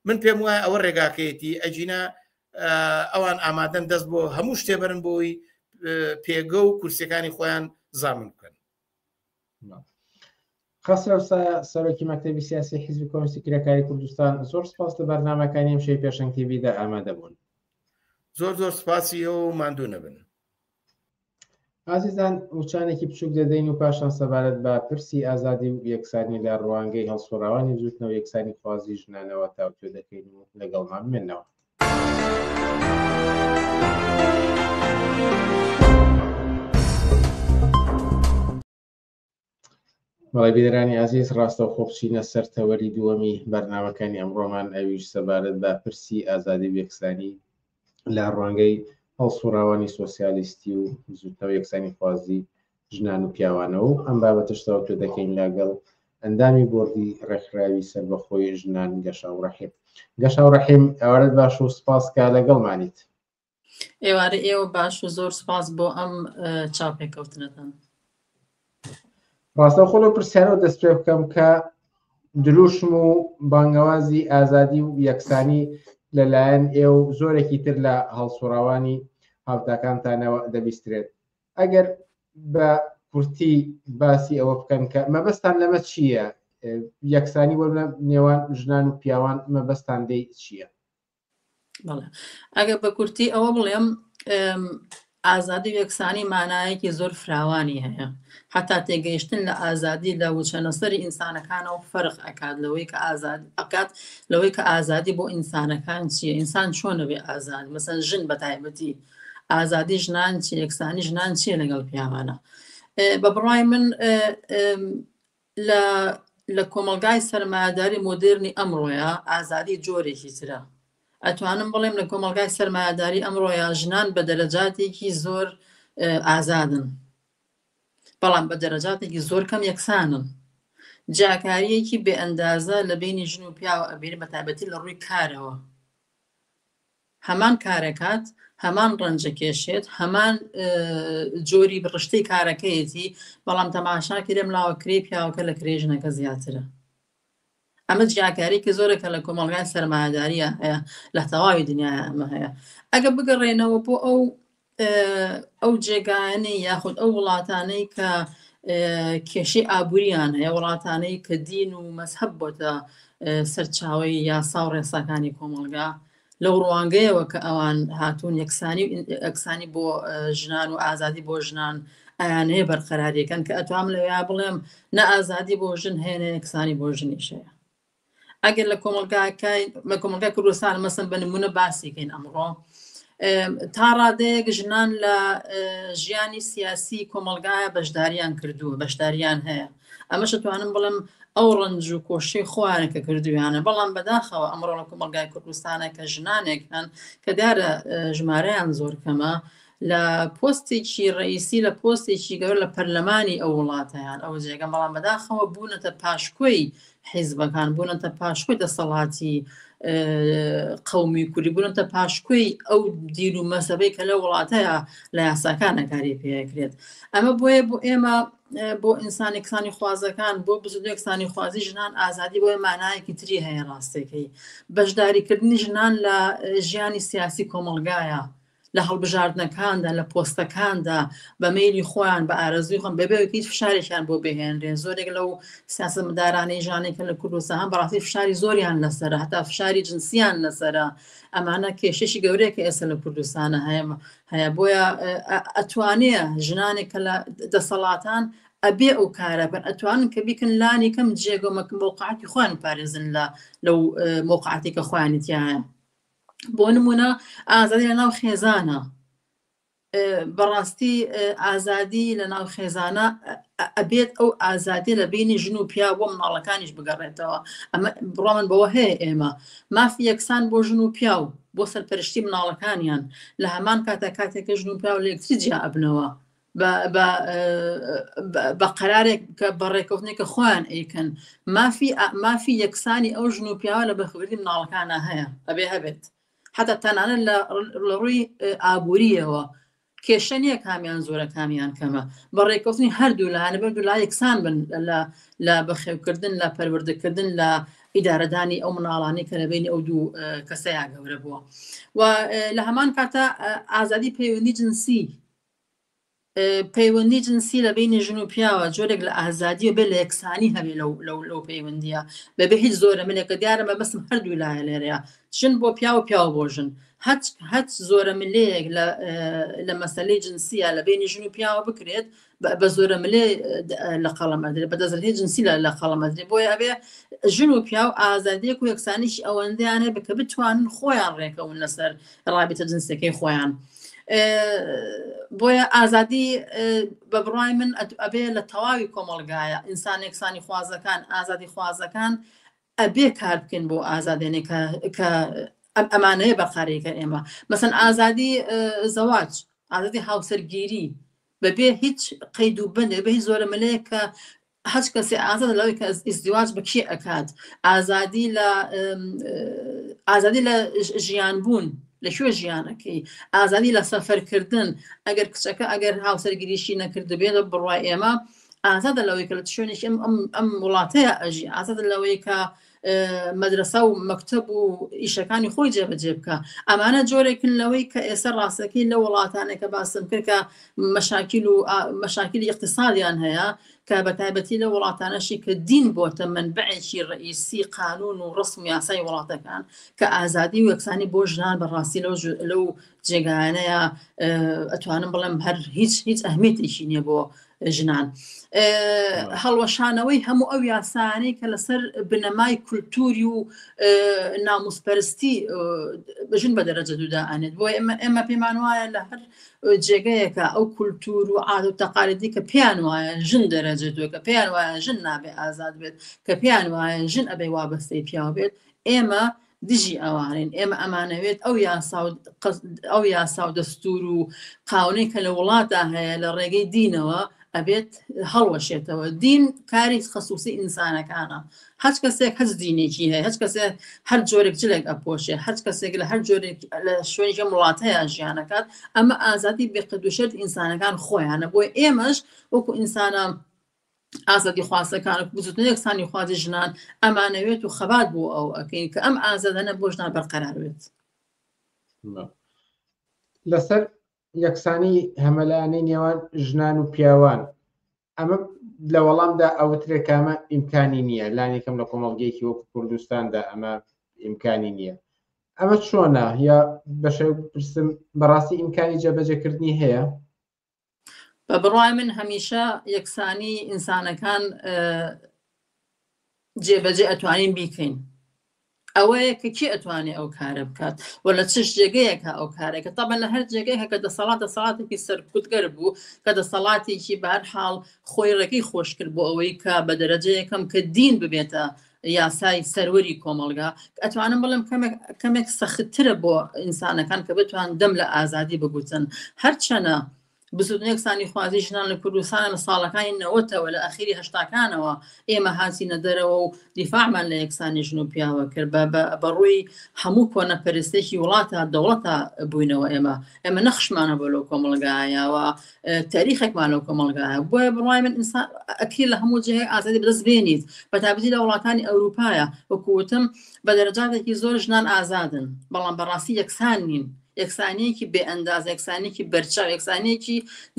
من پێم وایە ئەوە ڕێگاکەیەتی ئەجینا ئەوان ئامادەن دەست بۆ هەموو شتێ بەرن بۆی پێگە و کورسەکانی خۆیان زامن بکەن خەسرەو سەرۆکی مەکتتەبی سیاسی حیزبی کۆمسی کرێکاری کوردستان زۆر سپاس لە بەرنمەکانی ئەم شەی پێشنگ تیبیدا ئامادە بوون زۆر زۆر سپاسی ئەو ماندوو نەبن ئازیزان وچانێکی بچوک دەدەین و پاشان سەبارەت بە پرسی ئازادی و یەکسانی لە ڕوانگەی هەڵسوڕاوانی بزوتنەوە یەکسانی خوازی ژنانەوە تاوتوێ دەکەین و لەگەڵمان بمێنەوە. بەڵی بیرانی ئازیز ڕاستە و خۆبچینە سەر تەوەری دووەمی بەرنمەکانی ئەمڕۆمان ئەویش سەبارەت بە پرسی ئازادی وەکسانی لە ڕوانگەی هەڵسوڕاوانی سوسیالیستی و زوتنەوە یەکسانی خوازی ژنان و پیاوانە و ئەم بابەتشتەوە پێ دەکەین لاگەڵ ئەندامی بردی ڕێکخراوی سەربەخۆی ژنان گەشاو ڕحیم گەشاو ڕحیم ئەوەت باش و سپاس کا لەگەڵمانیت ئێوارە ئێوە باش و زۆر سپاس بۆ ئەم چاپێکەوتنەتان ڕاستە خۆلو پرسیارەوە دەست پێ بکەم کە دروشم و بانگەوازی ئازادی و یەکسانی لەلایەن ئێ و زۆرێکی تر لە هەڵسوڕاوانی هاوتاکانتانەوە دەبیسترێت ئەگەر بە کورتی باسی ئەوە بکەن کە مەبەستان لەمە چییە یەکسانی وەرە نێوان ژنان و پیاوان مەبەستان دەی چییە ئەگەر بە کورتی ئەوە بڵێم ئازادی وەکسانی مانایەکی زۆر فراوانی هەیە حتا تێگەیشتن لە ئازادی لە وچەنەسەری ئینسانەکانەوە فەرق ئەکات لەوەی کە ئازاد ئەکات لەوەی کە ئازادی بۆ ئینسانەکان چیە ئینسان چۆنەوێ ئازاد مەسەن ژن بە تایبەتی ئازادی ژنان چی یەکسانی ژنان چیە لەگەڵ پیاوانە بە بڕای من لە لە کۆمەڵگای سەرمایەداری مۆدێرنی ئەمڕۆیە ئازادی جۆرێکی ترە. ئەتوانم بڵێم لە کۆمەڵگای سەرمایەداری ئەمڕۆیە ژنان بە دەرەجاتێکی زۆر ئازادن. بەڵام بە دەرەجاتێکی زۆر کەم یەکسانن. جیاکاریەکی بێئەندازە لە بینی ژن و پیاوە ئەبێنی بە تایبەتی لە ڕووی کارەوە. هەمان کارەکات، هەمان ڕەنجەکێشێت، هەمان جۆری بڕشتەی کارەکەیەتی، بەڵام تەماشاکە لەم لاوە کرێی پیاوەکە لە کرێی ژنەکە زیاترە. ئەمە جیاکارێکی زۆرە کە لە کۆمەڵگای سەرمایەداریە هەیە لە تەواوی دنیاە ئەمە هەیە ئەگە بگەڕێنەوە بۆ ئەو ئەو جێگایانەی یاخود ئەو وڵاتانەی کە کێشی ئابووریان هەیە وڵاتانەی کە دین و مەسحب بۆتە سەرچاوی یاسا و ڕێساکانی کۆمەڵگا لەو ڕوانگەیەوە کە ئەوان هاتوون یەکسانی ئەکسانی بۆ ژنان و ئازادی بۆ ژنان ئەیانەیە بەرقەراریەکەن کە ئەتوام لەوێ بڵێم نە ئازادی بۆ ژن هەیە یەکسانی بۆ ژنیشەیە ئەگەر لە کۆمەڵگاکای لە کۆمەلگای کوردستان مەسن بە نمونە باسیکەین ئەمڕۆ تا ڕادەیەک ژنان لە ژیانی سیاسی کۆمەلگایە بەشداریان کردووە بەشداریان هەیە ئەمەش توانم بڵم ئەو ڕنج و کۆشی خۆیانە کە کردویانە بەڵام بەداخەوە ئەمڕۆ لە کۆمەلگای کوردستانە کە ژنانێک هەن کە دارە ژمارەیان زۆر کەمە لە پۆستێکی ڕئیسی لە پۆستێکی گەور لە پەرلەمانی ئەو وڵاتیان ئەو جێگەم بەڵام بەداخەوە بوونەتە پاشکۆی حیزبەکان بوونەتە پاشکۆی دەسەڵاتی قومی کوردی بوونەتە پاشکۆی ئەو دین و مەسەبەی کە لە وڵاتەیە لە یاساکانە کاری پێکرێت ئەمە بۆیە بۆ ئێمە بۆ ئینسانی کسانی خوازەکان بۆ بزودێکسانی خوازی ژنان ئازادی بۆیە مانایەکی تری هەیە ڕاستەکەی بەشداریکردنی ژنان لە ژیانی سیاسی کۆمەلگایە لە هەڵبژاردنەکاندا، لە پۆستەکاندا بە مەیلی خۆیان، بە ئارەزووی خۆیان، بەبێ ئەوەی کە هیچ فشارێکیان بۆ بهێنرێ. زۆرێک لەو سیاسەتمەدارانەی ژانەی کە لە کوردستان هەن، بەڕاستی فشاری زۆریان لەسەرە، هەتا فشاری جنسییان لەسەرە. ئەمانە کێشەیەکی گەورەیە کە ئێستا لە کوردستان هەیە. هەیە، بۆیە ئەتوانێ ژنانێک کە لە دەسەڵاتان ئەبێ ئەو کارە بکەن، ئەتوانن کە بیکەن لانی کەم جێگە و مەکن مەوقعاتی خۆیان بپارێزن لە لەو مەوقعاتەی کە خۆیانی تیایە. بۆ نمونە ئازادی لە ناو خێزانە بەڕاستی ئازادی لە ناو خێزانە ئەبێت ئەو ئازادی لە بینی ژن و پیا بۆ مناڵەکانیش بگەڕێتەوە ئەمە بڕۆمن بەوە هەیە ئێمە مافی یەکسان بۆ ژن و پیا و بۆ سەرپەرشتی مناڵەکانیان لە هەمان کاتە کاتێکە ژن و پیا و لەکتری جیا ئەبنەوە بە قەرارێک کە بە ڕێکەوتنێکە خۆیان ئەیکەن مافی مافی یەکسانی ئەو ژن و پیاوە لە بەخبردی مناڵەکانە هەیە ئەبێ هەبێت حتا تەنانە لە ڕووی ئابوووریەوە کێشە نییە کامیان زۆرە کامیان کەمە بە ڕێکەوتنی هەردوو لایەنە بە دولا یەکسان بن لە بەخێوکردن لە پەروەردەکردن لە ئیدارەدانی ئەو مناڵانی کە لەبینی ئەو دوو کەسەیە گەورە بووە و لە هەمان کاتە ئازادی پەیوەندی جنسی پەیوەندی جنسی لە بینی ژن و پیاوە جۆرێک لە ئازادیە بێ لە یەکسانی هەبێ لەو لەو لەو پەیوەندیە بەبێ هیچ زۆرە منێکە دیارە بە بەسم هەردوو لایە لێرەیە ژن بۆ پیاوە پیاو بۆ ژن هەچ هەچ زۆرە ملەیەک لە لە مەسلەی جنسیە لە بینی ژن و پیاوە بکرێت بە زۆرە ملێ لە قەڵەمەدرێ بە دەزرهی جنسی لە لە قەڵەمەدرێ بۆی ئەبێ ژن و پیاو ئازادێک و یەکسانیش ئەوەندەیانێ بکە بتوانن خۆیان ڕێکەون لەسەر رابطە جنسەکەی خۆیان بۆیە ئازادی بە بڕای من ئەبێ لە تەواوی کۆمەلگایە ئینسان یەکسانی خوازەکان ئازادی خوازەکان ئەبێ کار بکەن بۆ ئازادێنێ کە ئەم ئەمانەیە بەقارێکە ئێمە مەسن ئازادی زەواج ئازادی هاوسەرگیری بەبێ هیچ قەید و بەندێ بە هیچ زۆرە ملەیە کە هەچ کەسێ ئازادە لەوەی کە ئیزدیواج بە کێ ئەکات ئازادی لە ئازادی لە ژیان بوون لە کوێ ژیانەکەی ئازادی لە سەفەرکردن ئەگەر کچەکە ئەگەر هاوسەرگیریشی نەکردبێ لە بڕوای ئێمە ئازادە لەوەی کە لە شوێنێکی ئەم ئەم وڵاتەیە ئەژی ئازادە لەوەی کە مەدرسە و مەکتب و ئیشەکانی خۆی جێبەجێ بکە ئەمانە جۆرێکن لەوەی کە ئێستا ڕاستەکەی لە وڵاتانە کە باسم کرد کە مەشاکیل و مەشاکیلی اقتصادیان هەیە کە بە تایبەتی لە وڵاتانەشی کە دین بۆتە من بەعێکی ڕئیسی قانون و ڕسم یاسای وڵاتەکان کە ئازادی و یەکسانی بۆ ژنان بەڕاستی لەو لەو جێگایانەیە ئەتوانم بڵم هەر هیچ هیچ ئەهمیتێکی نییە بۆ ژنان. هەڵوەشانەوەی هەموو ئەو یاسانەی کە لەسەر بنەمای کولتوری و ناموسپەرستی بژن بە دەرەجە دوودا ئەنێت بۆ ئێمە ئێمە پێمان وایە لە هەر جێگەیەکە ئەو کولتور و عاد و تەقالدی کە پێیان وایە ژن دەرەجە دوێت کە پێیان وایە ژن نابێ ئازاد بێت کە پێیان وایە ژن ئەبێ وابەستەی پیاو بێت ئێمە دژی ئەوانین ئێمە ئەمانەوێت ئەو یاسا و قەس- ئەو یاسا و دەستور و قاونەی کە لە وڵاتدا هەیە لە ڕێگەی دینەوە ئەبێت هەڵوەشێتەوە دین کاری خەسوسی ئینسانەکانە هەچ کەسێک هەچ دینێکی هەیە هەچ کەسێ هەر جۆرێک جلێک ئەپۆشێ هەچ کەسێک لە هەر جۆرێک لە شوێنی ژەم وڵات هەیە ژیانەکات ئەمە ئازادی بێقەدوشێت ئینسانەکان خۆیانە بۆی ئێمەش وەکو ئینسانە ئازادیخوازەکان وەک بزوتنەوەی یەکسانیخوازی ژنان ئەمانەوێت و خەبات بۆ ئەو ئەکەین کە ئەم ئازادانە بۆ ژنان بەرقەرار بێت لەسەر یەکسانی هەمەلایەنەی نێوان ژنان و پیاوان ئەمە لە وەڵامدا ئەوترێک کامە ئیمکانی نییە لانێکم لە کۆمەڵگەیەکی وەکو کوردستاندا ئەمە ئیمکانی نییە ئەمە چۆنە یا بەشێ پرسم بەڕاستی ئیمکانی جەبەجەکردنی هەیە بە بڕوای من هەمیشە یەکسانی ئینسانەکان جێبەجێ ئەتوانین بیکەین ئەوەیە کە کی ئەتوانێت ئەو کارە بکات و لە چش جێگەیەکە ئەو کارێکە تەبە لە هەر جێگەیە کە دەسەڵات دەسەڵاتێکی سەرکوتگەر بوو کە دەسەڵاتێکی بار حاڵ خۆی ڕێگەی خۆشکرد بۆ ئەوەی کە بە دەرەجەیەکەم کە دین ببێتە یاسای سەروەری کۆمەڵگا ئەتوانم بڵم کەمێک سەختترە بۆ ئینسانەکان کە بتوان دەم لە ئازادی بگوتن هەرچەنە بزودنێکسانی خوازی ژنان لە کوردستانە لە ساڵەکانی نەوەتەوە لە ئەخیری هەشتاکانەوە ئێمە هاتیینە دەرەوە و دیفاعمان لە یەکسانی ژن و پیاوە کرد بە بەڕووی هەموو کۆنە پەرستێکی وڵاتە دەوڵەتە بووینەوە ئێمە ئێمە نەخشمانە بۆ لەو کۆمەڵگایەوە تاریخێکمان لەو کۆمەڵگایە بۆیە بڕای من ئینسان ئەکری لە هەموو جێ ئازادی بەدەست بێنیت بە تابزی لە وڵاتانی ئەوروپایە وەکوتم بە دەرەجاتێکی زۆر ژنان ئازادن بەڵام بەڕاستی یەکسان نین یەکسانەیەکی بێ ئەنداز یەکسانێکی بەرچاو یەکسانێکی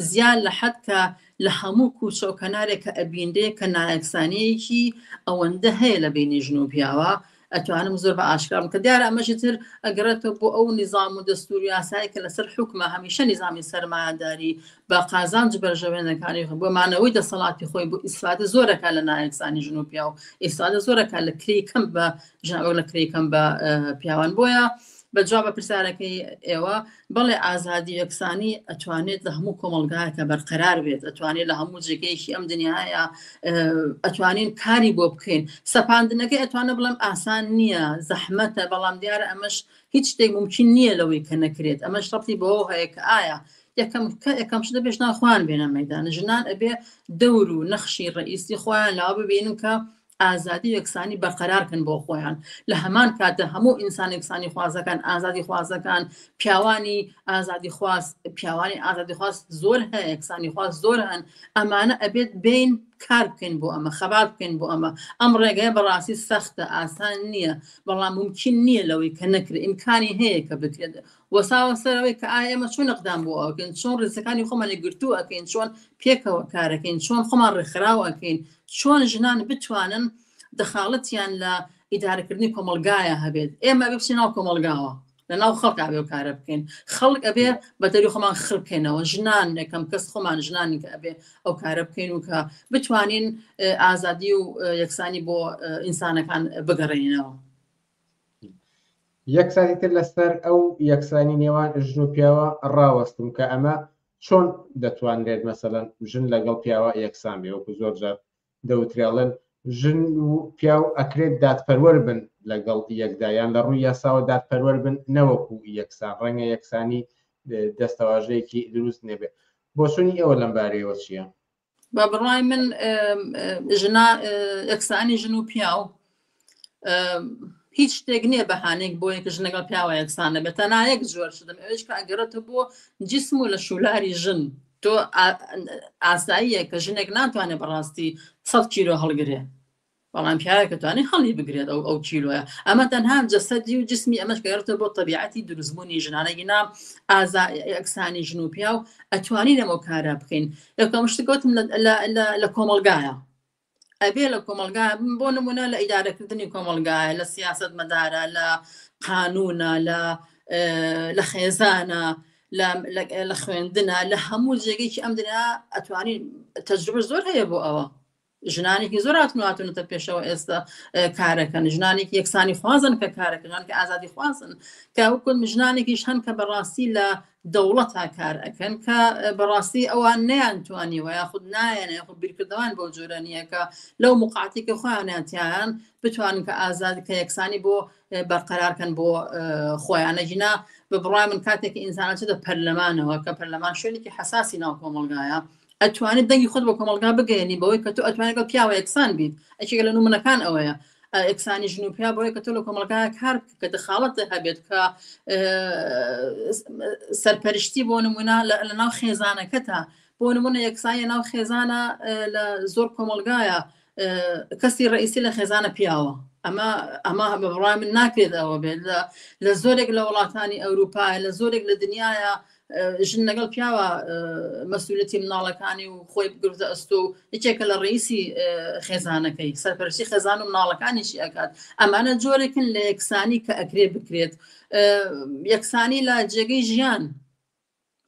زیان لە حەد کە لە هەموو کوچە و کەنارێک کە ئەبیندێ کە نایەکسانەیەکی ئەوەندە هەیە لە بینی ژن و پیاوە ئەتوانم زۆر بە ئاشکرام کە دیارە ئەمەژی تر ئەگەڕێتەوە بۆ ئەو نیزام و دەستور یاسایی کە لەسەر حکومە هەمیشە نیزامی سەرمایەداری بە قازانج بەرژەوێنەکانی بۆ مانەوەی دەسەڵاتی خۆی بۆ ئیسفادە زۆرەکە لە نایەکسانی ژن و پیا و ئیسفادە زۆرەکە لە کری کەم بە ژاوە لە کری کەم بە پیاوان بۆیە بە جواب پرسیارەکەی ئێوە بەڵێ ئازادی یەکسانی ئەتوانێت لە هەموو کۆمەلگایەکە بەرقەرار بێت ئەتوانێت لە هەموو جێگەیەکی ئەم دنیاە ئەتوانین کاری بۆ بکەین سەپاندنەکەی ئەتوانە بڵم ئاسان نییە زەحمەتە بەڵام دیارە ئەمەش هیچ شتێک ممکن نییە لەوەی کە نەکرێت ئەمە شڕتی بۆ هەیە کە ئایا یەکەم کە یەکەم شدە پێشناخوان بێنە مەدان ژنان ئەبێ دەور و نەخشی ڕئیسی خۆیان لا ببینن کە ئازادی و یەکسانی بەرقەرار کەن بۆ خۆیان لە هەمان کاتدا هەموو ئینسان یەکسانی خوازەکان ئازادی خوازەکان پیاوانی ئازادی خواست پیاوانی ئازادی خواست زۆر هەیە یەکسانی خواست زۆر هەن ئەمانە ئەبێت بین کار بکەین بۆ ئەمە خەبات بکەین بۆ ئەمە ئەم ڕێگەیە بەڕاستی سەختە ئاسان نییە بەڵام ممکن نییە لەوەی کە نەکرێت ئیمکانی هەیە کە بکرێت وەساوە سەرەوەی کە ئایا ئێمە چۆن نەقدام بۆ ئەوکەین چۆن ڕێزەکانی خۆمانی گرتوو ئەەکەین چۆن پێکەوە کارەکەین چۆن خۆمان ڕێکخراوەکەین چۆن ژنان بتوانن دەخاڵەتیان لە ئیدارەکردنی کۆمەلگایە هەبێت ئێمە ئەبێ بچین ناو کۆمەلگاوە لە ناو خەڵک ئەبێ و کارە بکەین خەڵک ئەبێ بە دەری خۆمان خڕکەینەوە ژنان نەکەم کەس خۆمان ژنانی کە ئەبێ ئەو کارە بکەین و کە بتوانین ئازادی و یەکسانی بۆ ئینسانەکان بگەڕێنینەوە یەکسانی تر لەسەر ئەو یەکسانی نێوان ژن و پیاوە ڕاوەستم کە ئەمە چۆن دەتوانرێت مەسەلەن ژن لەگەڵ پیاوە یەکسان بێ وەکو زۆر جار دەوترێڵن ژن و پیاو ئەکرێت دادپەروەر بن لەگەڵ یەکدایان لە ڕووی یاساوە دادپەروەر بن نەوەکو یەکسان ڕەنگە یەکسانی دەستەواژەیەکی دروست نەبێت بۆچونی ئێوە لەم بارەیەوە چییە؟ بە بڕای من ژنا یەکسانی ژن و پیاو هیچ شتێک نییە بەهانێک بۆ یەک ژنەگەڵ پیاوە یەکسانە بە تەنایەک زۆر شدم ئەوش کاگەرەتە بۆ جسم و لە شولاری ژن تۆ ئاساییە کە ژنێک ناتوانێت بەڕاستی سە کیرۆ هەڵگرێ بەڵام پیاوێک ئەتوانێ هەڵی بگرێت ئەو ئەو کیلۆیە ئەمە تەنها جەسەدی و جسمی ئەمەش گەڕێتە بۆ تەبیعەتی دروستبوونی ژنانە گینا ئازا یەکسانی ژن و پیاو ئەتوانی لەمە کارە بکەین یەکەم شتی گوتم لە کۆمەلگایە ئەبێ لە کۆمەلگا بۆ نمونە لە ئیدارەکردنی کۆمەلگایە لە سیاست مەدارە لە قانونە لە لە خێزانە لە خوێندنە لە هەموو جێگەیکی ئەم دنیا ئەتوانین تەجروبە زۆر هەیە بۆ ئەوە ژنانێکی زۆر هاتن و هاتونەتە پێشەوە ئێستا کارەکەن ژنانێکی یەکسانی خوازن کە کارەکەژان کە ئازادی خوازن کە وکن ژنانێکیش هەن کە بەڕاستی لە دەوڵەتا کار ئەەکەن کە بەڕاستی ئەوان نیان توانیوە یاخود نایەن یاخود بیرکردوان بۆ جۆرە نیەکە لەو مقاتی کە خۆیانیانتیان بتوانن کە ئازاد کە یەکسانی بۆ بەرقەرارکەن بۆ خۆیانە ژینا بە بڕای من کاتێک ئینسانە چێتە پەرلەمانەوە کە پەرلەمان شوێنێکی حساسی ناو کۆمەلگایە ئەتوانیت دەنگی خۆت بە کۆمەڵگا بگەیەنی بەوەی کە تۆ ئەتوانێت لەگەڵ پیاوە یەکسان بیت ئەکێکە لە نمونەکان ئەوەیە ئەکسانی ژن و پیا بۆیە کە تۆ لە کۆمەڵگای کار کە دەخاڵەتە هەبێت کە سەرپەرشتی بۆ نمونە لە ناو خێزانەکەتە بۆ نمونە یەکسایە ناو خێزانە لە زۆر کۆمەلگایە کەسی ڕئیسی لە خێزانە پیاوە ئەمە ئەمە بە بڕای من ناکرێت ئەوە بێت لە لە زۆرێک لە وڵاتانی ئەوروپایە لە زۆرێک لە دنیاە ژن لەگەڵ پیاوە مەسولەتی مناڵەکانی و خۆی بگرتە ئەستۆ و یەکێکە لە ڕیسی خێزانەکەی سەرپەرشی خێزان و مناڵەکانیشی ئەکات ئەمانە جۆرێکن لە یەکسانی کە ئەکرێ بکرێت یەکسانی لە جێگەی ژیان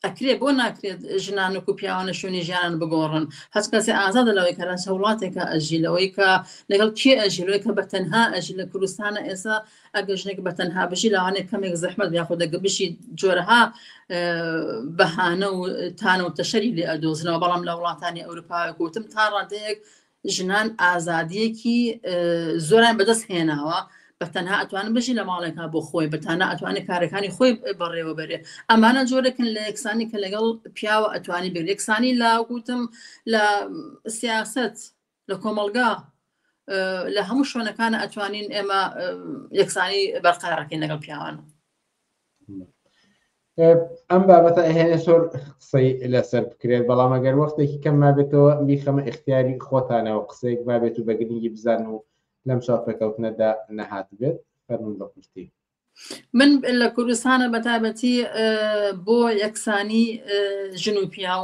ئەکرێت بۆ ناکرێت ژنان وەکو پیاوانە شوێنی ژیانان بگۆڕن هەچ کەسێ ئازادە لەوەی کە لەچ وڵاتێکە ئەژی لەوەی کە لەگەڵ کێ ئەژی لەوەی کە بە تەنها ئەژی لە کوردستانە ئێسا ئەگە ژنێک بە تەنها بژی لەوانێت کەمێک زەحمەت یاخود دەگە بشی جۆرەها بەهانە و تانە و تەشەری لێ ئەدۆزنەوە بەڵام لە وڵاتانی ئەوروپا گوتم تا ڕادەیەک ژنان ئازادیەکی زۆران بەدەست هێناوە بە تەنها ئەتوانن بژی لە ماڵێکا بۆ خۆی بەتانە ئەتوانێت کارەکانی خۆی بەڕێوە بەرێ ئەمانە جۆرەکن لە یەکسانی کە لەگەڵ پیاوە ئەتوانی بێت یەکسانی لا گوتم لە سیاست لە کۆمەلگا لە هەموو شوێنەکان ئەتوانین ئێمە یەکسانی بەرقەرارەکەین لەگەڵ پیاوانە ئەم بابەتە ئەهێنێ سۆر قسەی لەسەر بکرێت بەڵام ئەگەر وەختێکی کەم مابێتەوە میخەمە اختیاری خۆتانەوە قسەیەک بابێت و بەگرنگی بزان و لەم چاپەکەوتنەدا نەهات بێت فەرمون بە کورتی من لە کوردستانە بەتابەتی بۆ یەکسانی ژن و پیاو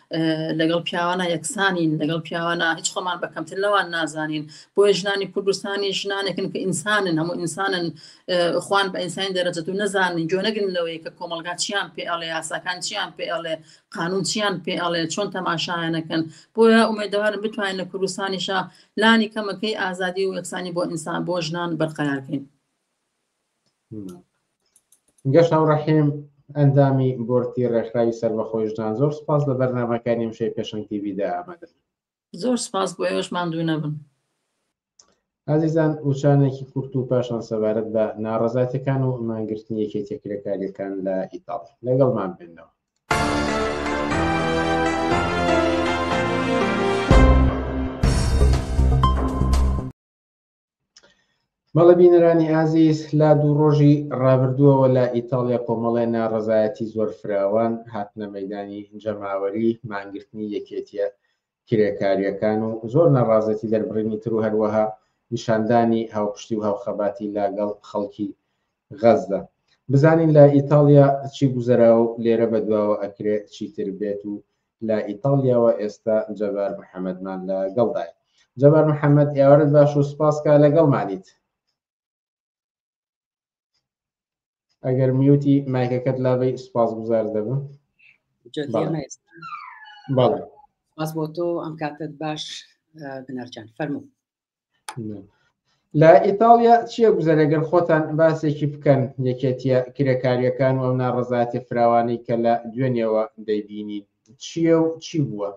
لەگەڵ پیاوانە یەکسانین لەگەڵ پیاوانە هیچ خۆمان بە کەمتر لەوان نازانین بۆیە ژنانی کوردستانی ژنانێکن کە ئینسانن هەموو ئینسانن خوان بە ئینسانی دەرەجە و نەزانین جۆ نەگرن لەوەی کە کۆمەلگا چیان پێ ئەڵێ یاساکان چیان پێ ئەڵێ قانون چیان پێ ئەڵێ چۆن تەماشایانەکەن بۆیە ئومێدەوارم بتوانین لە کوردستانیشە لانی کەمەکەی ئازادی و یەکسانی بۆ ئینسان بۆ ژنان بەرقەرارکەین گەشە و ڕەحیم ئەندامی بۆرتی ڕێکخراوی سەربەخۆی ژنان زۆر سپاس لە بەرنامەکانی ئەمشەی پێشەنگ تیڤیدا ئامادەن زۆر سپاس بۆ ئێوەش ماندوو نەبن ئازیزان وچانێکی کورت و پاشان سەبارەت بە ناڕزاتەکان و مانگرتنی یەکێتی کرێکاریەکان لە ئیتاڵ لەگەڵمان بێنەوە مەڵە بینەرانی ئازیز لا دوو ڕۆژی ڕابردووەوە لە ئیتالیا کۆمەڵێ ناڕزایەتی زۆر فراوان هاتنە مەدانی جەماوەری مانگرتنی یەکێتیە کرێکاریەکان و زۆر ناڕازێتی دەربڕینی تر و هەروەها نیشاندانی هاوپشتی و هاوخەباتی لاگەڵ خەڵکی غەزدا بزانین لە ئیتالیا چی گوزەرا و لێرە بەدواوە ئەکرێت چیتر بێت و لە ئیتاڵیاوە ئێستا جەبار محەمەدمان لە گەڵدای جەبار محەمەد ئێوارت باش و سپاس کا لەگەڵمانیت ئەگەر میوتی مایکەکەت لابەی سپاس گوزار دەبم بەڵێ باس بۆ تۆ ئەم کاتت باش بنەرجان فەرموو لە ئیتاڵیا چیە گوزەرەگەر خۆتان باسێکی بکەن یەکێتیە کرێکاریەکان و ناڕزاتی فراوانی کە لە دوێنێەوە دەیبینی چیە و چی بووە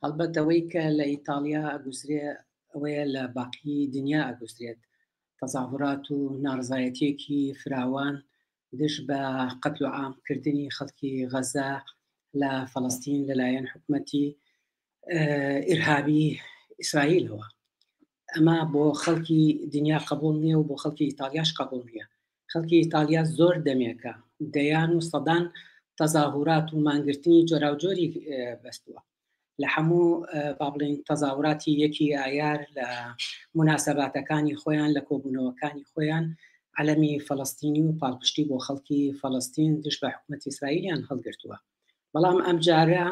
هەڵبەتەوەی کە لە ئیتاالیا ئەگوزرێ ئەوەیە لە باقی دنیا ئەگوزرێت تەزاهورات و ناڕزایەتێکی فراوان دژ بە قەتل و عامکردنی خەڵکی غەزە لە فەڵستین لەلایەن حکومەتی ئرهابی ئیسرائیلەوە ئەمە بۆ خەڵکی دنیا قبول نییە و بۆ خەڵکی ئیتالیاش قبول نییە خەڵکی ئیتالیا زۆر دەمێکە دەیان و سەدان تەزاهورات و مانگرتنی جۆراوجۆری بەستووە لە هەموو با بڵین تەزاوراتی یەکی ئایار لە مناسەباتەکانی خۆیان لە کۆبوونەوەکانی خۆیان عەلەمی فەڵستینی و پاڵپشتی بۆ خەڵکی فەڵستین دش بە حکوومەت ئیسرائیلیان هەڵگرتووە بەڵام ئەمجارە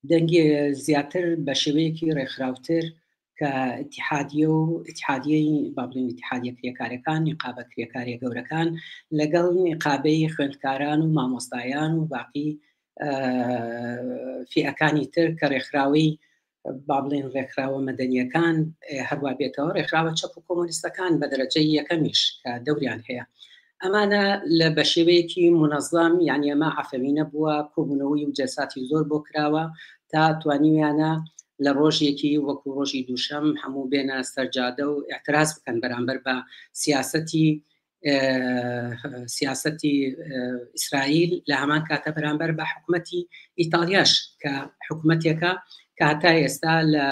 دەنگێ زیاتر بە شێوەیەکی ڕێکخراوتر کە اتحادیە و اتحادیەی بابلین اتحادیە کرێکارەکان نیقابە کرێکاریە گەورەکان لەگەڵ نیقابەی خوێندکاران و مامۆستایان و باقی فیەکانی تر کە ڕێکخراوی با بڵێین ڕێکخراوە مەدەنیەکان هەروا بێتەوە ڕێکخراوە چەپ و کۆمۆنیستەکان بە دەرەجەی یەکەمیش کە دەوریان هەیە ئەمانە لە بە شێوەیەکی منەظام یعنی ئەمە عفەوینە بووە کۆبوونەوەی و جەساتی زۆر بۆ کراوە تا توانیویانە لە ڕۆژێکی وەکو ڕۆژی دووشەم هەموو بێنە سەرجادە و اعتراز بکەن بەرامبەر بە سیاستی سیاسەتی ئیسرائیل لە هەمان کاتە بەرامبەر بە حکوومەتی ئیتالیاش کە حکوومەتێکە کە هەتا ئێستا لە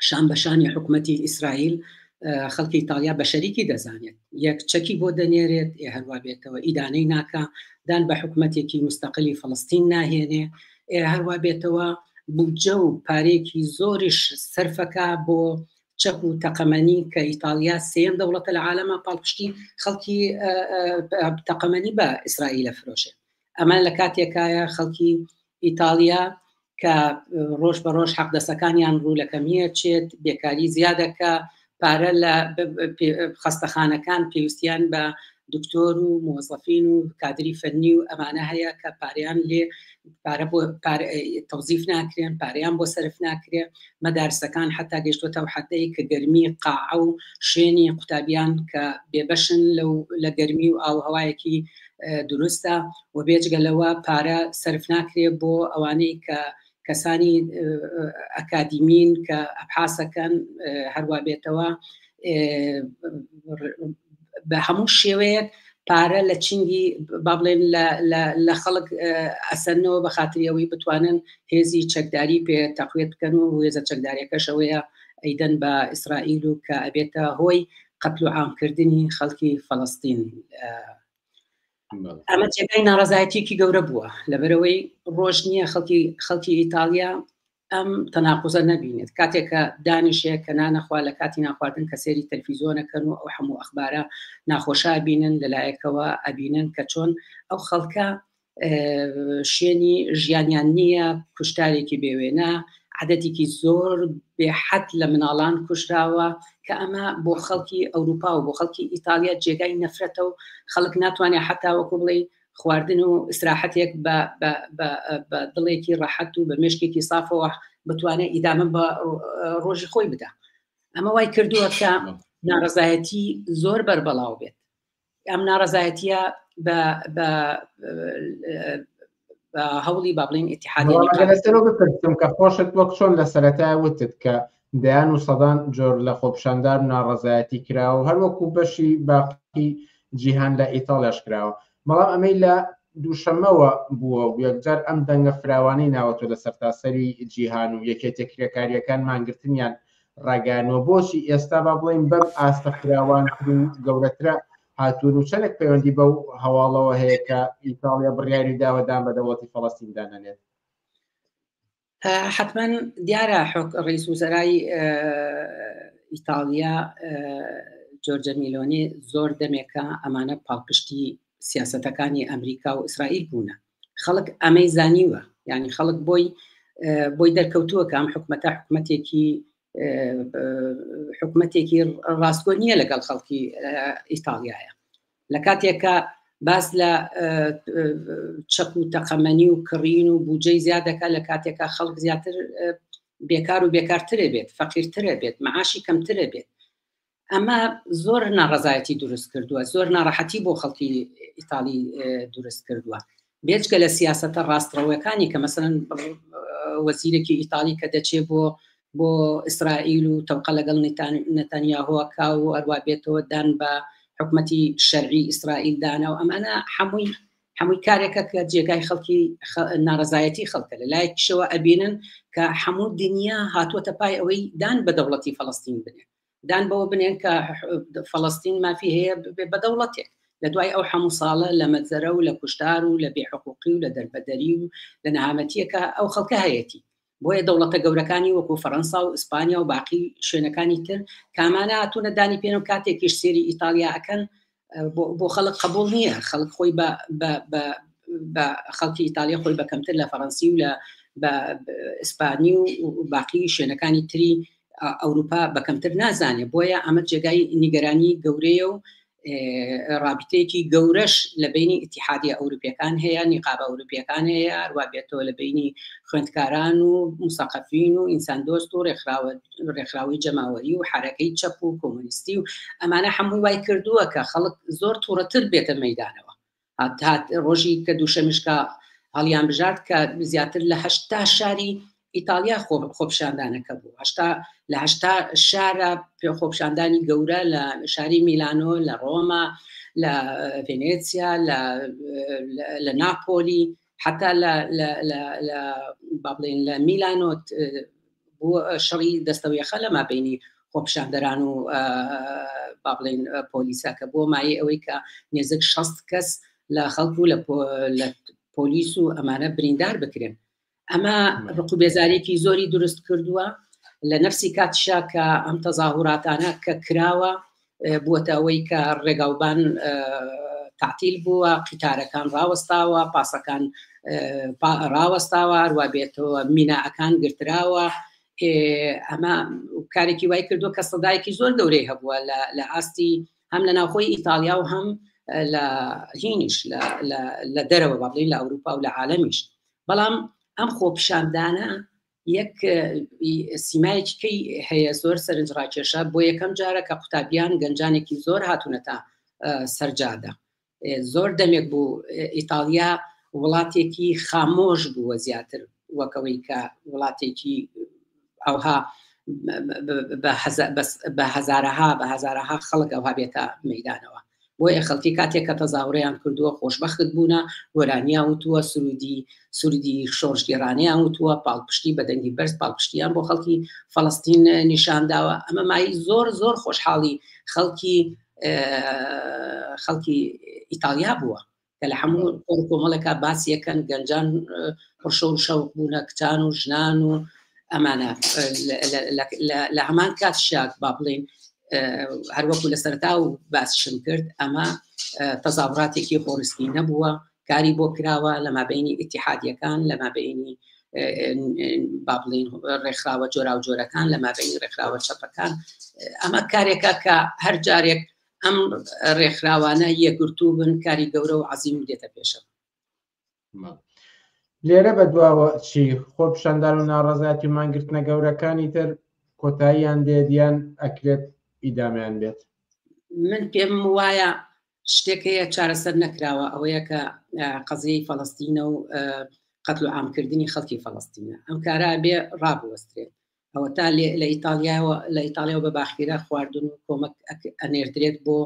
شان بەشانی حکوومەتی ئیسرائیل خەڵکی ئیتالیا بە شەریکی دەزانێت یەک چەکی بۆ دەنێرێت ئێ هەروە بێتەوە ئیدانەی ناکە دان بە حکوومەتێکی مستەقلی فلستین ناهێنێ هەروە بێتەوە بودجە و پارێکی زۆریش سەرفەکە بۆ چەپ و تەقەمەنی کە ئیتاڵیا سێم دەوڵەتە لە عالەما پاڵپشتی خەڵکی تەقەمەنی بە ئیسرائیلە فرۆشێ ئەمە لە کاتێکایە خەڵکی ئیتاڵیا کە ڕۆژ بە ڕۆژ حەقدەسەکانیان ڕوو لە کەمیە چێت بێکاری زیادەکە پارە لە خستەخانەکان پێویستیان بە دکتۆر و مۆزەفین و کادری فەرنی و ئەمانە هەیە کە پاریان لێ پارە بۆ تەوزیف ناکرێن پاریان بۆ سرف ناکرێ مەدارسەکان حتا گەشتوەتە و حدەی کە گەرمی قاع و شوێنی قوتابیان کە بێبەشن لەو لە گەرمی و ئاوهوایەکی دروستە و بێجگە لەوە پارە سرف ناکرێ بۆ ئەوانەی کە کەسانی ئەکادیمین کە ئەحاسەکەن هەروە بێتەوە بە هەموو شێوەیەک پارە لە چنگی با بڵێن لە خەڵک ئەسەنەوە بە خاتریەوەی بتوانن هێزی چەکداری پێ تەقوێت بکەن و هێزە چەکدارەکەشەوەیە ئەیدەن بە ئیسرائیل و کە ئەبێتە هۆی قەتل و عامکردنی خەڵکی فەڵستین ئەمە جێگای ناڕزایەتیکی گەورە بووە لەبەرەوەی ڕۆژ نییە خەڵکی خەڵکی ئیتالیا ئەم تەناقوزە نەبینێت کاتێک کە دانیشێ کە نانەخوا لە کاتی ناخواردن کە سێری تەلفیزۆنەکەن و ئەو هەموو ئەخبارە ناخۆشا بینن لەلایەکەوە ئەبینن کە چۆن ئەو خەڵکە شوێنی ژیانیان نییە کوشتارێکی بێوێنە عادەتێکی زۆر بێحەت لە مناڵان کوشراوە کە ئەمە بۆ خەڵکی ئەوروپا و بۆ خەڵکی ئیتالیا جێگای نەفرەتە و خەڵک ناتوانێت حتاوەکو بڵێ خواردن و ئیسراحەتێک بە بە بە بە دڵێکی ڕەحەت و بە مێشکێکی سافەوە بتوانێت ئیدامە بە ڕۆژی خۆی بدا ئەمە وای کردووە کە ناڕزایەتی زۆر بەربەڵاو بێت ئەم ناڕزایەتە بە بە هەوڵی بابلین ئتیحادەوە بپرسم کە خۆشت وەک چۆن لە سەرەتا وتت کە دەیان و سەدان جۆر لە خۆپشاندان و ناڕەزایەتی کراوە و هەروەکو بەشی باقی جیهان لە ئیتاڵیاش کراوە بەڵام ئەمەی لە دووشەمەوە بووە و یەکجار ئەم دەنگە فراوانەی ناوەتۆ لە سەرتاسەری جیهان و یەکێتیە کرێکاریەکان مانگرتنیان ڕاگەیانوە بۆچی ئێستا با بڵێین بەم ئاستە فراوانتر و گەورەترە هاتوون و چەندێک پەیوەندی بەو هەواڵەوە هەیە کە ئیتاڵیا بڕیاری داوە دان بە دەوڵەتی فەڵەستین دانەنێت حەتمەن دیارە ڕیس وزەرای ئیتاڵیا جۆرجە میلۆنی زۆر دەمێکە ئەمانە پاڵپشتی سیاستەکانی ئەمریکا و ئیسرائیل بوونە خەڵک ئەمەی زانیوە ینی خەڵک بۆی بۆی دەرکەوتووە کە ئەم حکومەتە حکومەتێکی حکومەتێکی ڕاستگۆ نییە لەگەڵ خەڵکی ئیتالیایە لە کاتێکا باس لە چەک و تەقەمەنی و کڕین و بودجەی زیاد دەکا لە کاتێکا خەڵک زیاتر بێکار و بێکارترێ بێت فەقیرترە بێت معاشی کەمترە بێت ئەمە زۆر ناڕزایەتی دروست کردووە زۆر ناڕەحەتی بۆ خەڵکی ئیتالی دروست کردووە بێجگە لە سیاسەتە ڕاستڕەوەکانی کە مەسەلەن وەزیرێکی ئیتاڵی کە دەچێ بۆ بۆ ئیسرائیل و تەوقە لەگەڵ نەتەنیاهۆکە و هەروە بێتەوە دان بە حکومەتی شەرعی ئیسرائیل دانا و ئەمانە حەمووی هەمووی کارێکە کە جێگای خەڵکی ناڕزایەتی خەڵکە لە لای کشەوە ئەبینن کە هەموو دنیا هاتووەتە پای ئەوەی دان بە دەوڵەتی فەڵستین بنێ دان بەوە بنێن کە فەڵەستین مافی هەیە ببێ بە دەوڵەتێک لە دوای ئەو هەموو ساڵە لە مەجزەرە و لە کوشتار و لە بێحقوقی و لە دەربەدەری و لە نەهامەتیەکە ئەو خەڵکە هەیەتی بۆیە دەوڵەتە گەورەکانی وەکو فەەنسا و ئیسپانیا و باقی شوێنەکانی تر کامانە هاتوونە دانی پێێن و کاتێکیش سێری ئیتالیا ئەەکەن بۆ خەڵک قبول نییە خەڵک خۆی بە خەڵکی ئیتالیا خۆی بە کەمتر لە فەڕەنسی و لە بە ئیسپانی و باقی شوێنەکانی تری ئەوروپا بە کەمتر نازانێ بۆیە ئەمە جێگای نیگەرانی گەورەیە و رابطەیەکی گەورەش لە بینی اتحادی ئەوروپیەکان هەیە نیقاب ئەوروپیەکان هەیە ئەروا بێتەوە لە بینی خوێندکاران و مسەقفین و ئینسان دۆست و ڕێکخراوە ڕێکخراوی جەماوەری و حرەکەی چەپ و کۆمۆنیستی و ئەمانە هەمووی وای کردووە کە خەڵک زۆر تووڕەتر بێتە مەدانەوە هات ڕۆژی کە دووشەمیشکە هەڵیان بژارد کە زیاتر لە هەشتا شاری ئیتالیا خۆپشاندانەکە بوو هشتا لە هشتا شارە پێ خۆپشاندانی گەورە لە شاری میلانۆ لە ڕۆما لە ڤێنێسیا لە ناپۆلی حتا لە لە لە لە با بڵێین لە میلانۆت بۆ شەڕی دەستەویەخە لەما بینی خۆپشاندەران و با بڵێن پۆلیسا کە بۆ مایە ئەوەی کە نێزک شەست کەس لە خەڵک و لە پۆلیس و ئەمانە بریندار بکرێن ئەمە ڕق و بێزارێکی زۆری دروست کردووە لە نفسی کاتشا کە ئەم تەزاهوراتانە کە کراوە بووەتە ئەوەی کە ڕێگاوبان تەعتیل بووە، قیتارەکان ڕاوەستاوە، پاسەکان ڕاوەستاوە، هەروا بێتەوە میناکان گرتراوە، ئەمە کارێکی وای کردووە کە سەدایەکی زۆر گەورەی هەبووە لە ئاستی هەم لە ناوخۆی ئیتالیا و هەم لە هینیش لە دەرەوە بەڵین لە ئەوروپا و لە عاالمیش بەڵام ئەم خۆپیشاندانە یەک سیمایەکی کەی هەیە زۆر سەرنج ڕاکێشە بۆ یەکەم جارە کە قوتابیان گەنجانێکی زۆر هاتوونەتە سەرجادە زۆر دەمێک بوو ئیتالیا وڵاتێکی خامۆش بووە زیاتر وەکەوەی کە وڵاتێکی ئەوها بە هەزارەها بە هەزارەها خەڵک ئەوها بێتە مەدانەوە بۆیە خەڵکی کاتێک کە تەزاوڕیان کردووە خۆشبەخت بوونە، گۆرانیان وتووە، سروودی سروودی شۆڕشگێڕانەیان وتووە، پاڵپشتی بە دەنگی بەرز پاڵپشتییان بۆ خەڵکی فەڵەستین نیشان داوە، ئەمە مایەی زۆر زۆر خۆشحاڵی خەڵکی خەڵکی ئیتاڵیا بووە. کە لە هەموو کۆڕ کۆمەڵێکا باسی یەکەن گەنجان پڕشەو شەوق بوونە کچان و ژنان و ئەمانە لە هەمان کات شاک با بڵین هەروەکو لە سەرتا و باسشم کرد ئەمە تەزاڕاتێکی خۆرستی نەبووە کاری بۆ کراوە لە مابینی ئتیحادیەکان لە مابینی با بڵین ڕێکخراوە جۆرا و جۆرەکان لە مابینی ڕێکخراوە چەپەکان ئەمە کارێکە کە هەر جارێک ئەم ڕێکخراوانە یەکگرتوو بن کاری گەورە و عەزیم دێتە پێشەوە لێرە بە دواوە چی خۆ پیشاندان و ناڕزایەتی و مانگرتنە گەورەکانی تر کۆتاییان دێت یان ئەکرێت ئیدامیان بێت من پێم وایە شتێکەیە چارەسەر نەکراوە ئەوەیە کە قەزیی فەڵستینە و قەتل و ئامکردنی خەڵکی فەڵستینە ئەم کارا بێ ڕابوەسترێت ئەوەتا لە ئیتاڵیاوە لە ئیتاڵیاوە بە باخیرە خواردن و کۆمەک ئەنێردرێت بۆ